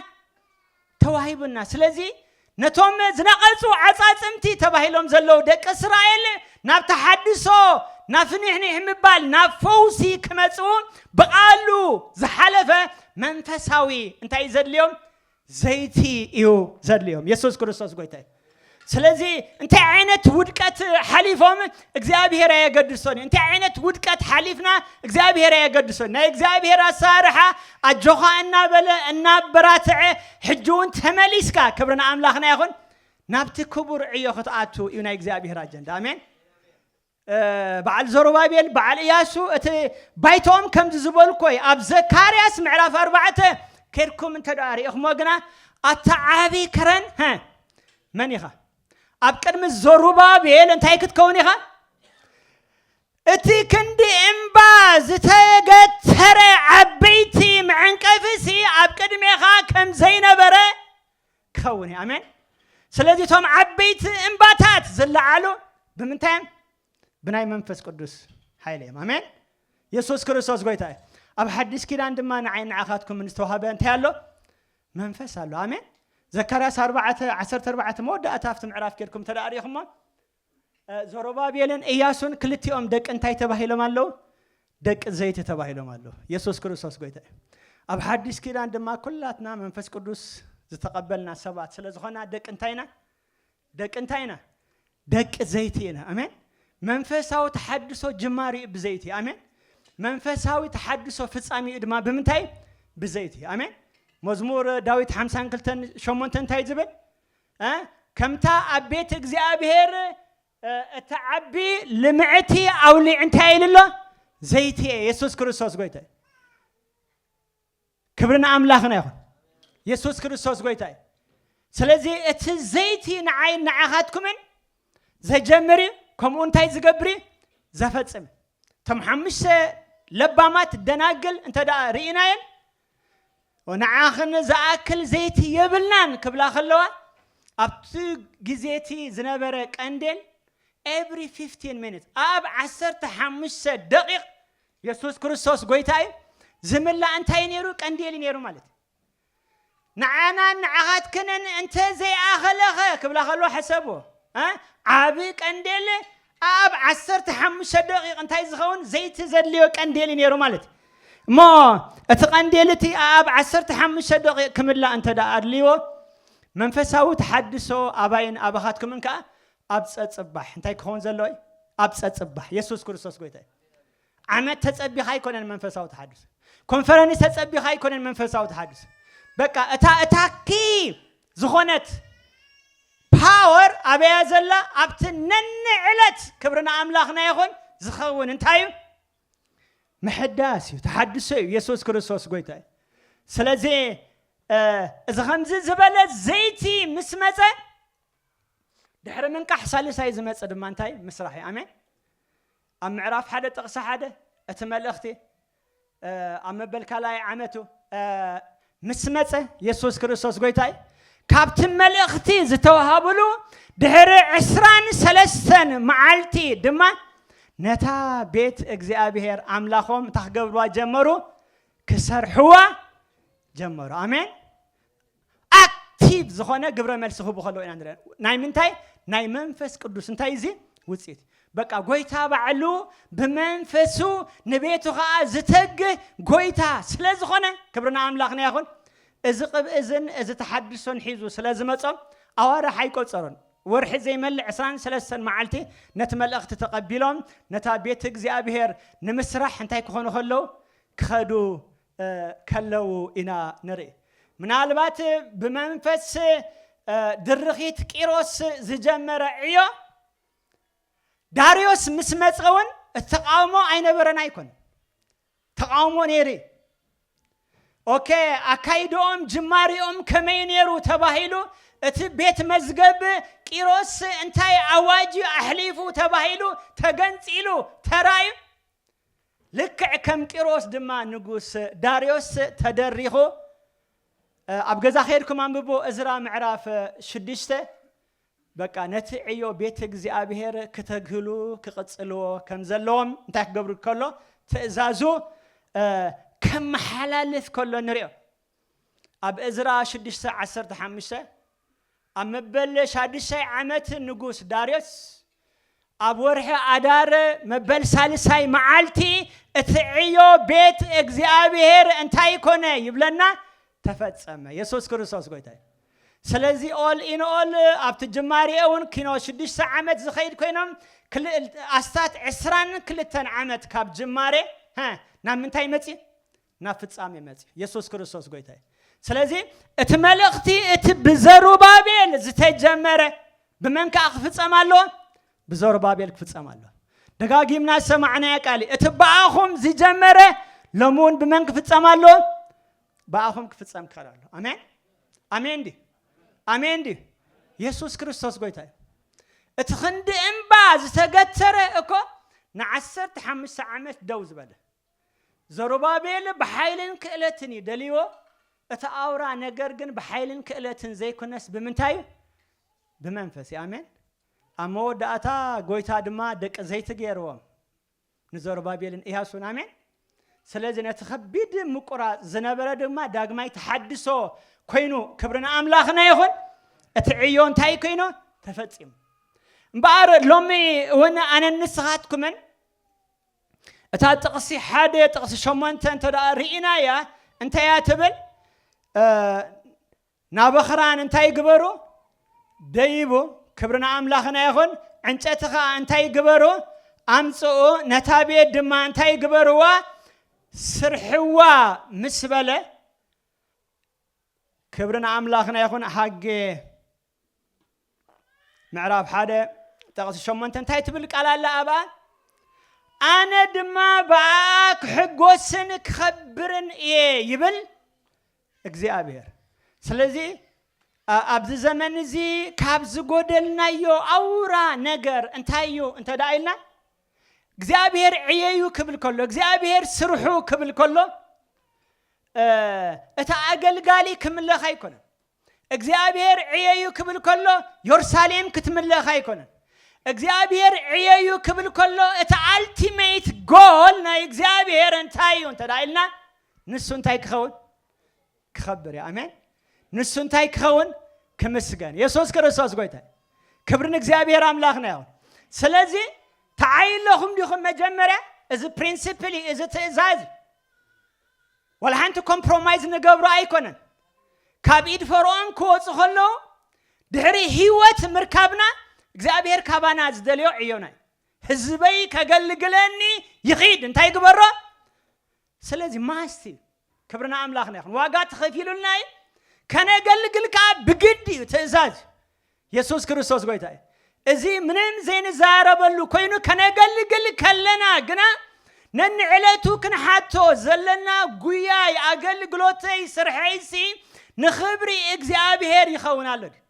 S1: ተዋሂቡና። ስለዚ ነቶም ዝነቐጹ ዓጻጽምቲ ተባሂሎም ዘለዉ ደቂ እስራኤል ናብ ተሓድሶ ናብ ፍኒሕኒሕ ምባል ናብ ፈውሲ ክመጽኡ ብቓሉ ዝሓለፈ መንፈሳዊ እንታይ እዩ ዘድልዮም ዘይቲ እዩ ዘድልዮም የሱስ ክርስቶስ ጎይታ እዩ ስለዚ እንታይ ዓይነት ውድቀት ሓሊፎም እግዚኣብሄር ኣየገድሶን እዩ እንታይ ዓይነት ውድቀት ሓሊፍና እግዚኣብሄር ኣየገድሶን ናይ እግዚኣብሄር ኣሰራርሓ ኣጆኻ እናበለ እናበራትዐ ሕጂ እውን ተመሊስካ ክብሪ ንኣምላኽና ይኹን ናብቲ ክቡር ዕዮ ክትኣቱ እዩ ናይ እግዚኣብሄር ኣጀንዳ ኣሜን በዓል ዘሩባቤል በዓል እያሱ እቲ ባይቶኦም ከምዚ ዝበልኮይ ኣብ ዘካርያስ ምዕራፍ ኣርባዕተ ኬድኩም እንተ ደኣ ርኢኹሞ ግና ኣቲ ዓቢ ከረን ሀ መን ኢኻ ኣብ ቅድሚ ዘሩባቤል እንታይ ክትከውን ኢኻ እቲ ክንዲ እምባ ዝተገተረ ዓበይቲ መዐንቀፊሲ ኣብ ቅድሜኻ ከም ዘይነበረ ክኸውን እዩ ኣሜን ስለዚ እቶም ዓበይቲ እምባታት ዝለዓሉ ብምንታይ እዮም ብናይ መንፈስ ቅዱስ ሓይሊ እዮም ኣሜን የሱስ ክርስቶስ ጎይታ እዩ ኣብ ሓዲስ ኪዳን ድማ ንዓይ ንዓኻትኩም ዝተዋሃበ እንታይ ኣሎ መንፈስ ኣሎ ኣሜን ዘካርያስ 4 14 መወዳእታ ኣብቲ ምዕራፍ ጌርኩም ተደኣሪኹሞ ዘሩባቤልን እያሱን ክልቲኦም ደቂ እንታይ ተባሂሎም ኣለዉ? ደቂ ዘይቲ ተባሂሎም ኣለዉ። የሱስ ክርስቶስ ጎይታ እዩ። ኣብ ሓዲስ ኪዳን ድማ ኩላትና መንፈስ ቅዱስ ዝተቐበልና ሰባት ስለ ዝኾና ደቂ እንታይ ኢና? ደቂ እንታይ ኢና? ደቂ ዘይቲ ኢና። ኣሜን። መንፈሳዊ ተሓድሶ ጅማሪኡ ብዘይቲ እዩ። ኣሜን። መንፈሳዊ ተሓድሶ ፍጻሜኡ ድማ ብምንታይ እዩ? ብዘይቲ እዩ። ኣሜን። መዝሙር ዳዊት ሓምሳን ክልተን ሸሞንተን እንታይ እዩ ዝብል? ከምታ ኣብ ቤት እግዚኣብሔር እትዓቢ ልምዕቲ ኣውሊ እንታይ ኢሉ ኣሎ ዘይቲ እየ የሱስ ክርስቶስ ጎይታ እዩ ክብሪ ንኣምላኽና ይኹን የሱስ ክርስቶስ ጎይታ እዩ ስለዚ እቲ ዘይቲ ንዓይን ንዓኻትኩምን ዘጀምር እዩ ከምኡ እንታይ ዝገብር እዩ ዘፈፅም እቶም ሓሙሽተ ለባማት ደናግል እንተ ርኢናየን ንዓኽን ዝኣክል ዘይቲ የብልናን ክብላ ከለዋ ኣብቲ ግዜ እቲ ዝነበረ ቀንዴል ኤቭሪ ፊፍቲን ሚኒት ኣብ ዓሰርተ ሓሙሽተ ደቂቕ የሱስ ክርስቶስ ጎይታ እዩ ዝምላእ እንታይ ነይሩ ቀንዴል ነይሩ ማለት እዩ ንዓናን ንዓኻትክንን እንተ ዘይኣኸለኸ ክብላ ከለዋ ሕሰብዎ ዓብ ቀንዴል ኣኣብ ዓሰርተ ሓሙሽተ ደቒቕ እንታይ ዚኸውን ዘይቲ ዘድልዮ ቀንዴል እዩ ነይሩ ማለት እዩ። እሞ እቲ ቀንዴል እቲ ኣኣብ ዓሰርተ ሓሙሽተ ደቒቕ ኪምላእ እንተ ደኣ ኣድልይዎ፣ መንፈሳዊ ተሓድሶ ኣባይን ኣባኻትኩምን ከኣ ኣብ ጸጽባሕ እንታይ ኪኸውን ዘለዎ እዩ? ኣብ ጸጽባሕ። የሱስ ክርስቶስ ጐይታ እዩ። ዓመት ተጸቢኻ ኣይኮነን መንፈሳዊ ተሓድሶ ኮንፈረንስ ተጸቢኻ ኣይኮነን መንፈሳዊ ተሓድሶ በቃ እታ እታ ኪ ዝኾነት ፓወር ኣበያ ዘላ ኣብቲ ነኒ ዕለት ክብሪ ንኣምላኽና ይኹን ዝኸውን እንታይ እዩ ምሕዳስ እዩ ተሓድሶ እዩ የሱስ ክርስቶስ ጎይታ እዩ ስለዚ እዚ ከምዚ ዝበለ ዘይቲ ምስ መፀ ድሕሪ ምንቃሕ ሳልሳይ ዝመፀ ድማ እንታይ ምስራሕ እዩ ኣሜን ኣብ ምዕራፍ ሓደ ጥቕሲ ሓደ እቲ መልእኽቲ ኣብ መበል ካልኣይ ዓመቱ ምስ መጸ የሱስ ክርስቶስ ጎይታ እዩ። ካብቲ መልእኽቲ ዝተዋሃብሉ ድሕሪ ዕስራን ሰለስተን መዓልቲ ድማ ነታ ቤት እግዚኣብሔር ኣምላኾም እንታ ክገብርዋ ጀመሩ ክሰርሕዋ ጀመሩ። ኣሜን። ኣክቲቭ ዝኾነ ግብረ መልሲ ክህቡ ከለዉ ኢና ንርኢ። ናይ ምንታይ? ናይ መንፈስ ቅዱስ። እንታይ እዚ ውጽኢት? በቃ ጎይታ ባዕሉ ብመንፈሱ ንቤቱ ከዓ ዝተግህ ጎይታ ስለ ዝኾነ ክብሪ ንኣምላኽና ይኹን። እዚ ቅብእ እዝን እዚ ተሓድሶን ሒዙ ስለ ዝመጾ ኣዋርሕ ኣይቆጸሩን። ወርሒ ዘይመልእ ዕስራን ሰለስተን መዓልቲ ነቲ መልእኽቲ ተቐቢሎም ነታ ቤት እግዚኣብሔር ንምስራሕ እንታይ ክኾኑ ከለዉ? ክኸዱ ከለዉ ኢና ንርኢ። ምናልባት ብመንፈስ ድርኺት ቂሮስ ዝጀመረ ዕዮ ዳርዮስ ምስ መጸ እውን እቲ ተቃውሞ ኣይነበረን ኣይኮን ተቃውሞ ነይሩ እዩ። ኦኬ ኣካይድኦም ጅማሪኦም ከመይ ነይሩ ተባሂሉ እቲ ቤት መዝገብ ቂሮስ እንታይ ኣዋጅ ኣሕሊፉ ተባሂሉ ተገንጺሉ ተራእዩ ልክዕ ከም ቂሮስ ድማ ንጉስ ዳርዮስ ተደሪኹ ኣብ ገዛ ከድኩም ኣንብቡ እዝራ ምዕራፍ ሽዱሽተ በቃ ነቲ ዕዮ ቤት እግዚኣብሔር ክተግህሉ ክቕጽልዎ ከም ዘለዎም እንታይ ክገብሩ ከሎ ትእዛዙ ከመሓላልፍ ከሎ ንሪኦ ኣብ እዝራ ሽዱሽተ ዓሰርተ ሓሙሽተ ኣብ መበል ሻዱሻይ ዓመት ንጉስ ዳርዮስ ኣብ ወርሒ ኣዳር መበል ሳልሳይ መዓልቲ እቲ ዕዮ ቤት እግዚኣብሔር እንታይ ኮነ ይብለና ተፈጸመ የሱስ ክርስቶስ ጎይታ እዩ ስለዚ ኦል ኢን ኦል ኣብቲ ጅማሬ እውን ኪኖ ሽዱሽተ ዓመት ዝኸይድ ኮይኖም ኣስታት ዕስራን ክልተን ዓመት ካብ ጅማሬ ናብ ምንታይ መፅእ ናብ ፍጻሜ መጺኡ የሱስ ክርስቶስ ጎይታ እዩ። ስለዚ እቲ መልእኽቲ እቲ ብዘሩባቤል ዝተጀመረ ብመን ከኣ ክፍጸም ኣለዎ? ብዘሩባቤል ክፍጸም ኣለዎ። ደጋጊምና ዝሰማዕናያ ቃል እዩ። እቲ ብኣኹም ዝጀመረ ሎሚ እውን ብመን ክፍጸም ኣለዎ? ብኣኹም ክፍጸም ክኸል ኣሎ። ኣሜን ኣሜን ድዩ ኣሜን ድዩ? የሱስ ክርስቶስ ጎይታ እዩ። እቲ ክንዲ እምባ ዝተገተረ እኮ ንዓሰርተ ሓሙሽተ ዓመት ደው ዝበለ ዘሩባቤል ብሓይልን ክእለትን እዩ ደልይዎ፣ እቲ ኣውራ ነገር ግን ብሓይልን ክእለትን ዘይኩነስ ብምንታይ እዩ? ብመንፈስ እዩ። ኣሜን። ኣብ መወዳእታ ጎይታ ድማ ደቂ ዘይቲ ገይርዎም ንዘሩባቤልን ኢያሱን። ኣሜን። ስለዚ ነቲ ከቢድ ምቁራጽ ዝነበረ ድማ ዳግማይ ተሓድሶ ኮይኑ ክብሪ ንኣምላኽና ይኹን። እቲ ዕዮ እንታይ ኮይኑ ተፈጺሙ። እምበኣር ሎሚ እውን ኣነን ንስኻትኩምን እታ ጥቕሲ ሓደ ጥቕሲ ሸሞንተ እንተ ርኢናያ እንታይ እያ ትብል? ናበኽራን እንታይ ግበሩ? ደይቡ ክብሪ ንኣምላኽና ይኹን። ዕንጨቲ ከዓ እንታይ ግበሩ? ኣምፅኡ ነታ ቤት ድማ እንታይ ግበርዋ? ስርሕዋ ምስ በለ ክብሪ ንኣምላኽና ይኹን ሃጌ ምዕራፍ ሓደ ጥቕሲ ሸሞንተ እንታይ ትብል ቃል ኣላ ኣብኣ ኣነ ድማ ብኣኣ ክሕጎስን ክኸብርን እየ ይብል እግዚኣብሔር ስለዚ ኣብዚ ዘመን እዚ ካብ ዝጎደልናዮ ኣውራ ነገር እንታይ እዩ እንተ ደኣ ኢልና እግዚኣብሄር ዕየዩ ክብል ከሎ እግዚኣብሄር ስርሑ ክብል ከሎ እቲ ኣገልጋሊ ክምለኽ ኣይኮነን እግዚኣብሄር ዕየዩ ክብል ከሎ ዮርሳሌም ክትምለኽ ኣይኮነን። እግዚኣብሄር ዕየዩ ክብል ከሎ እቲ ኣልቲመይት ጎል ናይ እግዚኣብሄር እንታይ እዩ እንተ ኢልና ንሱ እንታይ ክኸውን ክኸብር እዩ። ኣሜን። ንሱ እንታይ ክኸውን ክምስገን። የሱስ ክርስቶስ ጎይታ ክብሪ ንእግዚኣብሄር ኣምላኽና ይኹን። ስለዚ ተዓይለኹም ዲኹም መጀመርያ እዚ ፕሪንሲፕል እዩ፣ እዚ ትእዛዝ እዩ። ዋላ ሓንቲ ኮምፕሮማይዝ ንገብሮ ኣይኮነን። ካብ ኢድ ፈርኦን ክወጹ ከለዉ ድሕሪ ህይወት ምርካብና እግዚኣብሄር ካባና ዝደልዮ ዕዮና እዩ። ህዝበይ ከገልግለኒ ይኺድ እንታይ ግበሮ ስለዚ ማስት እዩ። ክብሪ ንኣምላኽና ይኹን። ዋጋ ተኸፊሉልና እዩ። ከነገልግል ከዓ ብግድ እዩ፣ ትእዛዝ እዩ። የሱስ ክርስቶስ ጐይታ እዩ። እዚ ምንም ዘይንዛረበሉ ኮይኑ ከነገልግል ከለና ግና ነንዕለቱ ክንሓቶ ዘለና ጉያይ፣ ኣገልግሎተይ፣ ስርሐይሲ ንኽብሪ እግዚኣብሄር ይኸውን ኣሎ ድዩ?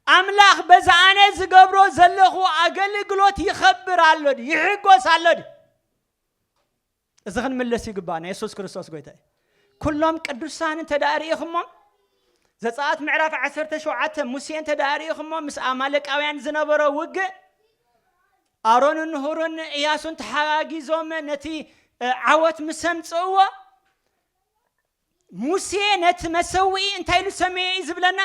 S1: ኣምላኽ በዚ ኣነ ዝገብሮ ዘለኹ ኣገልግሎት ይኸብር ኣሎ ድዩ? ይሕጐስ ኣሎ ድዩ? እዚ ክንምለስ ይግባእና የሱስ ክርስቶስ ጎይታ እዩ ኩሎም ቅዱሳን እንተ ርእኹሞም ዘፀኣት ምዕራፍ ዓሰርተ ሸውዓተ ሙሴ እንተ ርእኹሞ ምስ ኣማለቃውያን ዝነበሮ ውግእ ኣሮንን ሁርን እያሱን ተሓጋጊዞም ነቲ ዓወት ምስ ኣምፅእዎ ሙሴ ነቲ መሰውኢ እንታይ ኢሉ ሰመየ እዩ ዝብለና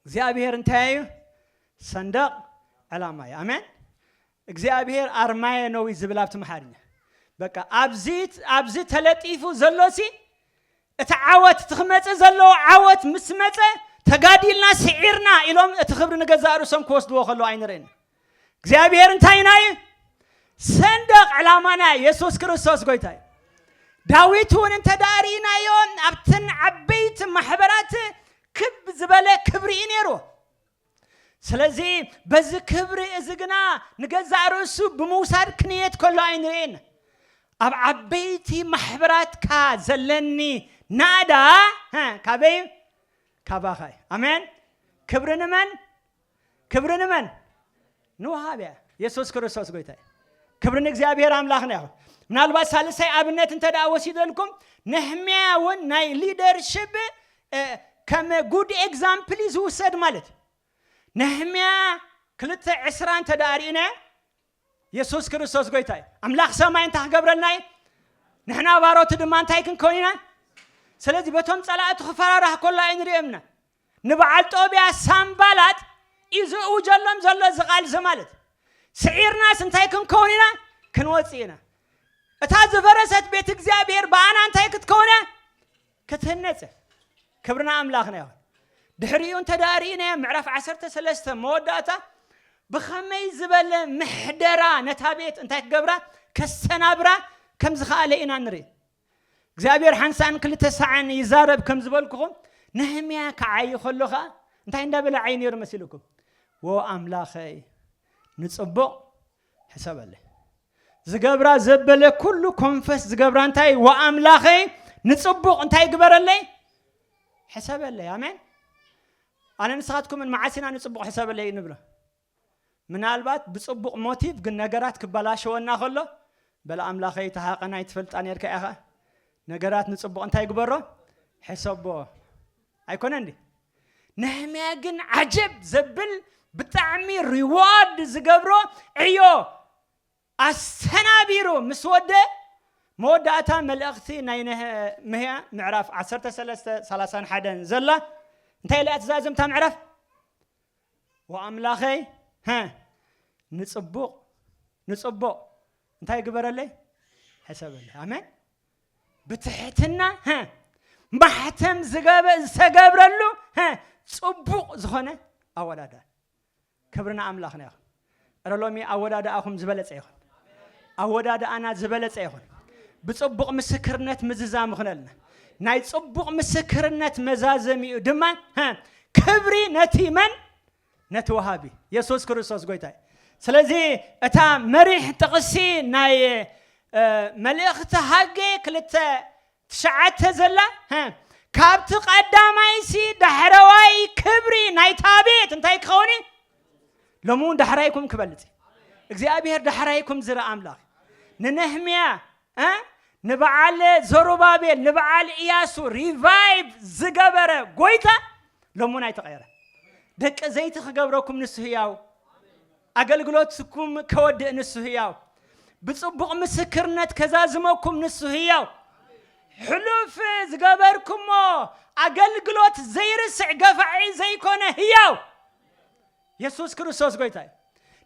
S1: እግዚኣብሔር እንታይ እዩ ሰንደቅ ዕላማ እዩ ኣሜን እግዚኣብሔር ኣርማየ ነው እዩ ዝብል ኣብቲ መሓርኛ በቃ ኣብዚ ኣብዚ ተለጢፉ ዘሎ ሲ እቲ ዓወት እቲ ክመፅእ ዘለዎ ዓወት ምስ መፀ ተጋዲልና ስዒርና ኢሎም እቲ ክብሪ ንገዛእ ርእሶም ክወስድዎ ከለዉ ኣይንርእን እግዚኣብሔር እንታይ ኢና እዩ ሰንደቕ ዕላማና የሱስ ክርስቶስ ጎይታ እዩ ዳዊት እውን እንተ ደኣ ርኢናዮ ኣብተን ዓበይቲ ማሕበራት ክብ ዝበለ ክብሪ እዩ ነይሩ ስለዚ በዚ ክብሪ እዚ ግና ንገዛእ ርእሱ ብምውሳድ ክንየት ከሎ ኣይንርእን ኣብ ዓበይቲ ማሕበራትካ ዘለኒ ናእዳ ካበይ ካባኻ እዩ ኣሜን ክብሪ ንመን ክብሪ ንመን ንውሃብያ የሱስ ክርስቶስ ጎይታ እዩ ክብሪ ንእግዚኣብሔር ኣምላኽና ይኹን ምናልባት ሳልሳይ ኣብነት እንተ ደኣ ወሲደልኩም ነሕምያ እውን ናይ ሊደርሽፕ ከም ጉድ ኤግዛምፕል እዩ ዝውሰድ ማለት እዩ ነሕምያ ክልተ ዕስራ እንተ ደኣ ርኢና የሱስ ክርስቶስ ጎይታ እዩ ኣምላኽ ሰማይ እንታይ ክገብረልና እዩ ንሕና ባሮቱ ድማ እንታይ ክንከውን ኢና ስለዚ በቶም ፀላእቱ ክፈራራህ ከሎ ኣይንሪኦምና ንበዓል ጦብያ ሳንባላጥ እዩ ዝእውጀሎም ዘሎ እዚ ቃል እዚ ማለት ስዒርናስ እንታይ ክንከውን ኢና ክንወጽእ ኢና እታ ዝፈረሰት ቤት እግዚኣብሔር ብኣና እንታይ ክትከውን እያ ክትህነጽ ክብርና ኣምላኽና ይኹን ድሕሪኡ እንተ ደኣ ርኢናዮ ምዕራፍ 13 መወዳእታ ብኸመይ ዝበለ ምሕደራ ነታ ቤት እንታይ ክገብራ ከሰናብራ ከም ዝኸኣለ ኢና ንርኢ እግዚኣብሄር ሓንሳእን ክልተ ሳዕን ይዛረብ ከም ዝበልኩኹም፣ ነህምያ ክዓዪ ከሎ ኸኣ እንታይ እንዳ በለ ይዓዪ ነይሩ መሲሉኩም? ዎ ኣምላኸይ ንጽቡቕ ሕሰበለይ። ዝገብራ ዘበለ ኩሉ ኮንፈስ ዝገብራ እንታይ እዩ? ዎ ኣምላኸይ ንጽቡቕ እንታይ ግበረለይ? ሕሰበለይ። ኣሜን። ኣነ ንስኻትኩምን መዓስ ኢና ንጽቡቕ ሕሰበለይ ንብሎ? ምናልባት ብጽቡቕ ሞቲቭ ግን ነገራት ክበላሸወና ከሎ በል ኣምላኸይ እቲ ሃቐና ኣይትፈልጣ ኔርካ ኢኻ ነገራት ንጽቡቕ እንታይ ግበሮ ሕሰቦ ኣይኮነን ድዩ ነህምያ ግን ዓጀብ ዘብል ብጣዕሚ ሪዋርድ ዝገብሮ ዕዮ ኣሰናቢሩ ምስ ወደእ፣ መወዳእታ መልእኽቲ ናይ ነህምያ ምዕራፍ ዓሰርተ ሰለስተ ሰላሳን ሓደን ዘላ እንታይ ኢላ እያ ትዛዝም እታ ምዕራፍ? ወኣምላኸይ ሀ ንጽቡቕ ንጽቡቕ እንታይ ግበረለይ ሕሰበለይ ኣሜን ብትሕትና ሀ ማሕተም ዝተገብረሉ ሀ ጽቡቕ ዝኾነ ኣወዳዳ ክብሪ ንኣምላኽና ይኹን። እረ ሎሚ ኣወዳድኣኹም ዝበለጸ ይኹን። ኣወዳድኣና ዝበለጸ ይኹን። ብጽቡቕ ምስክርነት ምዝዛም ይኹነልና። ናይ ጽቡቕ ምስክርነት መዛዘሚኡ ድማ ሀ፣ ክብሪ ነቲ መን ነቲ ወሃቢ የሱስ ክርስቶስ ጎይታ እዩ። ስለዚ እታ መሪሕ ጥቕሲ ናይ እ፣ መልእኽቲ ሃጌ ክልተ ትሽዓተ ዘላ ሀ ካብቲ ቀዳማይሲ ዳሕረዋይ ክብሪ ናይታ ቤት እንታይ ክኸውን እዩ ሎሚ እውን ዳሕራይኩም ክበልፅ እዩ እግዚኣብሔር ዳሕራይኩም ዝርኢ ኣምላኽ ንነህምያ እ ንበዓል ዘሩባቤል ንበዓል እያሱ ሪቫይቭ ዝገበረ ጎይታ ሎሚ እውን ኣይተቐየረ ደቂ ዘይቲ ክገብረኩም ንሱ ህያው ኣገልግሎትኩም ከወድእ ንሱ ህያው ብጽቡቕ ምስክርነት ከዛዝመኩም ንሱ ህያው ሕሉፍ ዝገበርኩሞ ኣገልግሎት ዘይርስዕ ገፋዒ ዘይኮነ ህያው የሱስ ክርስቶስ ጎይታ እዩ።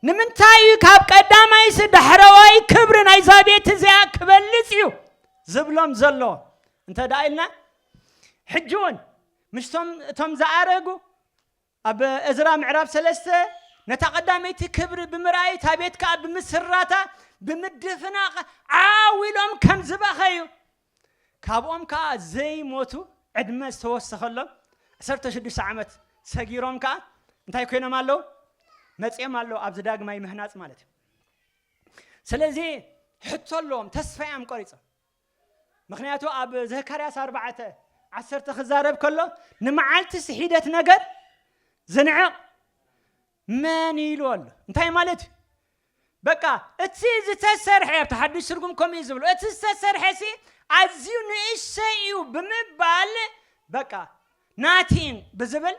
S1: ንምንታይ እዩ ካብ ቀዳማይስ ዳሕረዋይ ክብሪ ናይዛ ቤት እዚኣ ክበልጽ እዩ ዝብሎም ዘሎ እንተ ደኣ ኢልና ሕጂ እውን ምስቶም እቶም ዝኣረጉ ኣብ እዝራ ምዕራፍ ሰለስተ፣ ነታ ቐዳመይቲ ክብሪ ብምርኣይ፣ እታ ቤት ከኣ ብምስራታ ብምድፍናቕ ዓው ኢሎም ከም ዝበኸዩ፣ ካብኦም ከኣ ዘይሞቱ ዕድመ ዝተወሰኸሎም ዓሰርተ ሽዱሽተ ዓመት ሰጊሮም ከኣ እንታይ ኮይኖም ኣለዉ? መጺኦም ኣለዉ፣ ኣብዚ ዳግማይ ምህናጽ ማለት እዩ። ስለዚ ሕቶ ኣለዎም፣ ተስፋ እዮም ቆሪጾም። ምኽንያቱ ኣብ ዘካርያስ ኣርባዕተ ዓሰርተ ክዛረብ ከሎ ንመዓልቲ ስሒደት ነገር ዝንዕቕ መን እዩ ኢሉ ኣሎ እንታይ ማለት እዩ በቃ እቲ ዝተሰርሐ ኣብቲ ሓዱሽ ትርጉም ከምኡ እዩ ዝብሎ እቲ ዝተሰርሐ ሲ ኣዝዩ ንእሰይ እዩ ብምባል በቃ ናቲን ብዝብል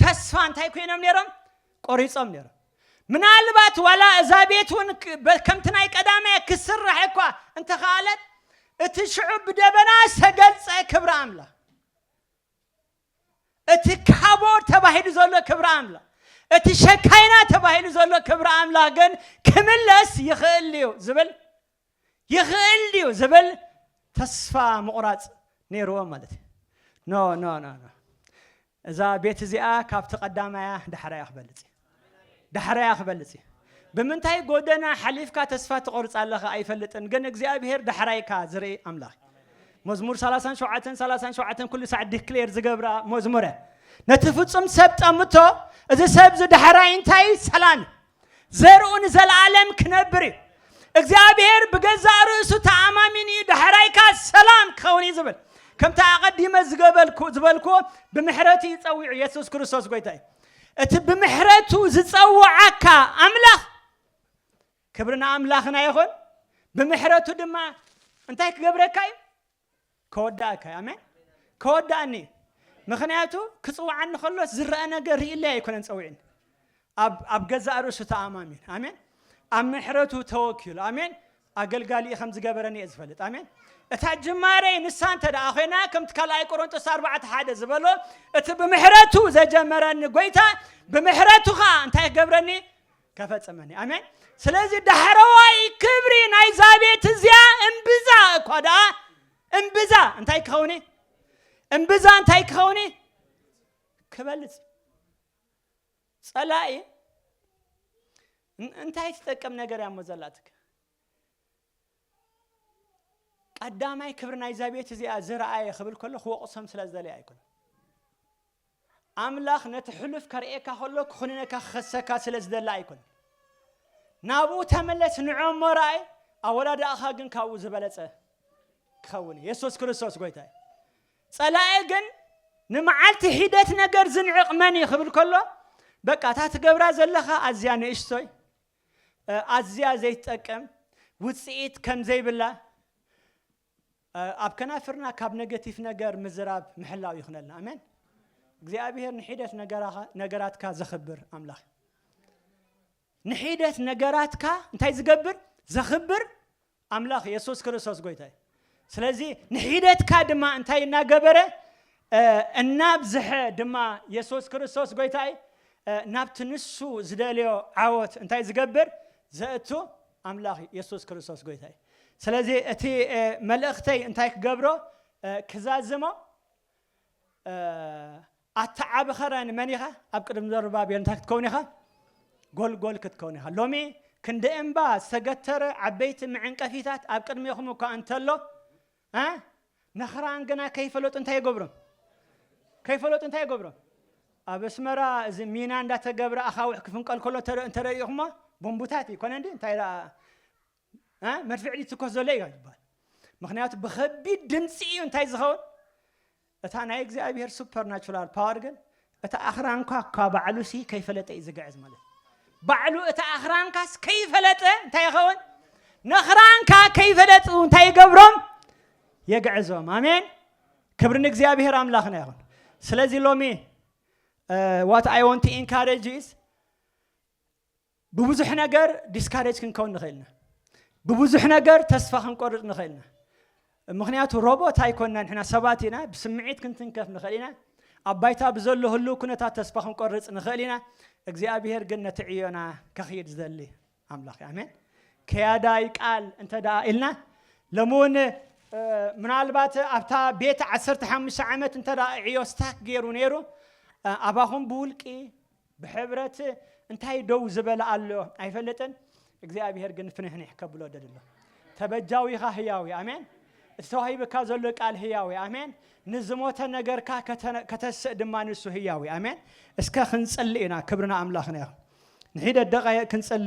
S1: ተስፋ እንታይ ኮይኖም ነይሮም ቆሪጾም ነይሮም። ምናልባት ዋላ እዛ ቤት እውን ከምቲ ናይ ቀዳማይ ክስራሕ እኳ እንተኸኣለት እቲ ሽዑ ብደበና ዝተገልጸ ክብሪ ኣምላኽ እቲ ካቦድ ተባሂሉ ዘሎ ክብሪ ኣምላኽ እቲ ሸካይና ተባሂሉ ዘሎ ክብሪ ኣምላኽ ግን ክምለስ ይኽእል እዩ ዝብል ይኽእል ድዩ ዝብል ተስፋ ምቑራጽ ነይርዎም ማለት እዩ። ኖ ኖ ኖ ኖ እዛ ቤት እዚኣ ካብቲ ቀዳማያ ዳሕራያ ክበልጽ እዩ። ዳሕራያ ክበልጽ እዩ። ብምንታይ ጎደና ሓሊፍካ ተስፋ ትቆርጽ ኣለኻ ኣይፈልጥን፣ ግን እግዚኣብሄር ዳሕራይካ ዝርኢ ኣምላኽ እዩ። መዝሙር 37 37 ኩሉ ሳዕ ዲክሌር ዝገብራ መዝሙረ ነቲ ፍጹም ሰብ ጠምቶ እዚ ሰብ እዚ ዳሕራይ እንታይ እዩ ሰላም እዩ ዘርኡ ንዘለኣለም ክነብር እዩ። እግዚኣብሔር ብገዛእ ርእሱ ተኣማሚኑ እዩ ዳሕራይካ ሰላም ክኸውን እዩ ዝብል ከምቲ ኣቐዲመ ዝገበልኩ ዝበልኩዎ ብምሕረቱ እዩ ጸዊዑ የሱስ ክርስቶስ ጎይታ እዩ እቲ ብምሕረቱ ዝጸውዓካ ኣምላኽ ክብሪ ንኣምላኽና ይኹን ብምሕረቱ ድማ እንታይ ክገብረካ እዩ ከወድኣካ እዩ ኣሜን ከወድኣኒ እዩ ምክንያቱ ክፅውዓኒ ከሎስ ዝረአ ነገር ርእለይ ኣይኮነን ፀዊዕን ኣብ ገዛእ ርእሱ ተኣማሚን ኣሜን ኣብ ምሕረቱ ተወኪሉ ኣሜን ኣገልጋሊ ከም ዝገበረኒ እየ ዝፈልጥ ኣሜን እታ ጅማሬ ንሳ እንተ ደኣ ኮይና ከምቲ ካልኣይ ቆሮንጦስ ኣርባዕተ ሓደ ዝበሎ እቲ ብምሕረቱ ዘጀመረኒ ጎይታ ብምሕረቱ ከዓ እንታይ ክገብረኒ ከፈጸመኒ ኣሜን ስለዚ ዳሕረዋይ ክብሪ ናይዛ ቤት እዚኣ እምብዛ እኳ ደኣ እምብዛ እንታይ ክኸውን እዩ እምብዛ እንታይ ክኸውን እዩ ክበልፅ ጸላኢ እን- እንታይ ትጠቅም ነገር እያ እሞ ዘላትክ ቀዳማይ ክብሪ ናይዛ ቤት እዚኣ ዝረኣየ ክብል ከሎ ክወቕሶም ስለ ዝደለየ ኣይኮነ ኣምላኽ ነቲ ሕሉፍ ከርእየካ ከሎ ክኹንነካ ክኸሰካ ስለ ዝደለ ኣይኮነን። ናብኡ ተመለስ ንዕ'ሞ ረኣይ ኣወዳድኣኻ ግን ካብኡ ዝበለጸ ክኸውን እዩ። የሱስ ክርስቶስ ጎይታ እዩ። ጸላኢ ግን ንመዓልቲ ሒደት ነገር ዝንዕቕ መን እዩ ክብል ከሎ በቃ እታ ትገብራ ዘለኻ ኣዝያ ንእሽቶይ ኣዝያ ዘይትጠቅም ውጽኢት ከም ዘይብላ ኣብ ከናፍርና ካብ ነገቲፍ ነገር ምዝራብ ምሕላው ይክነልና ኣሜን እግዚኣብሔር ንሒደት ነገራትካ ዘክብር ኣምላክ ንሒደት ነገራትካ እንታይ ዝገብር ዘክብር ኣምላክ የሱስ ክርስቶስ ጎይታ እዩ ስለዚ ንሒደትካ ድማ እንታይ እናገበረ እናብዝሐ ድማ የሱስ ክርስቶስ ጎይታይ ናብቲ ንሱ ዝደልዮ ዓወት እንታይ ዝገብር ዘእቱ ኣምላኽ የሱስ ክርስቶስ ጎይታይ ስለዚ እቲ መልእኽተይ እንታይ ክገብሮ ክዛዝሞ ኣታ ዓቢ ኸረን መን ኢኻ ኣብ ቅድሚ ዘሩባቤል እንታይ ክትከውን ኢኻ ጎልጎል ክትከውን ኢኻ ሎሚ ክንዲ እምባ ዝተገተረ ዓበይቲ መዕንቀፊታት ኣብ ቅድሜኹም እኳ እንተሎ መኽራን ግና ከይፈለጡ እንታይ ይገብሮም ከይፈለጡ እንታይ ይገብሮም ኣብ ኣስመራ እዚ ሚና እንዳተገብረ ኣኻውሕ ክፍንቀል ከሎ እንተረኢኹሞ ቦምቡታት እዩ ኮነ እንዲ እንታይ ደኣ መድፍዕ ይትኮስ ዘሎ እዩ ይባል ምክንያቱ ብከቢድ ድምፂ እዩ እንታይ ዝኸውን እታ ናይ እግዚኣብሔር ሱፐር ናቹራል ፓወር ግን እቲ ኣኽራንኳ እኳ ባዕሉ ሲ ከይፈለጠ እዩ ዝግዕዝ ማለት እዩ ባዕሉ እቲ ኣኽራንካስ ከይፈለጠ እንታይ ይኸውን ነኽራንካ ከይፈለጡ እንታይ ይገብሮም የግዕዞም ኣሜን ክብሪ ንእግዚኣብሔር ኣምላኽና ይኹን ስለዚ ሎሚ ዋት ኣይ ወንት ኢንካሬጅ ኢዝ ብብዙሕ ነገር ዲስካሬጅ ክንከውን ንኽእል ኢና። ብብዙሕ ነገር ተስፋ ክንቆርጽ ንኽእል ኢና። ምኽንያቱ ሮቦት ኣይኮንና ንሕና ሰባት ኢና፣ ብስምዒት ክንትንከፍ ንኽእል ኢና፣ ኣብ ባይታ ብዘሎ ህሉው ኩነታት ተስፋ ክንቆርጽ ንኽእል ኢና። እግዚኣብሄር ግን ነቲ ዕዮና ከኽይድ ዝደሊ ኣምላኽ እዩ። ኣሜን። ከያዳይ ቃል እንተ ደኣ ኢልና ሎሚ እውን ምናልባት ኣብታ ቤት ዓሰርተ ሓሙሽተ ዓመት እንተ ደኣ ዕዮ ስታክ ገይሩ ነይሩ ኣባኹም ብውልቂ ብሕብረት እንታይ ደው ዝበለ ኣሎ ኣይፈለጥን እግዚኣብሔር ግን ፍንሕኒሕ ከብሎ ደሊ ኣሎ ተበጃዊኻ ህያዊ ኣሜን እቲ ተዋሂብካ ዘሎ ቃል ህያዊ ኣሜን ንዝሞተ ነገርካ ከተስእ ድማ ንሱ ህያዊ ኣሜን እስከ ክንጽሊ ኢና ክብርና ኣምላኽና ይኹን ንሒደ ደቓይቕ ክንጽሊ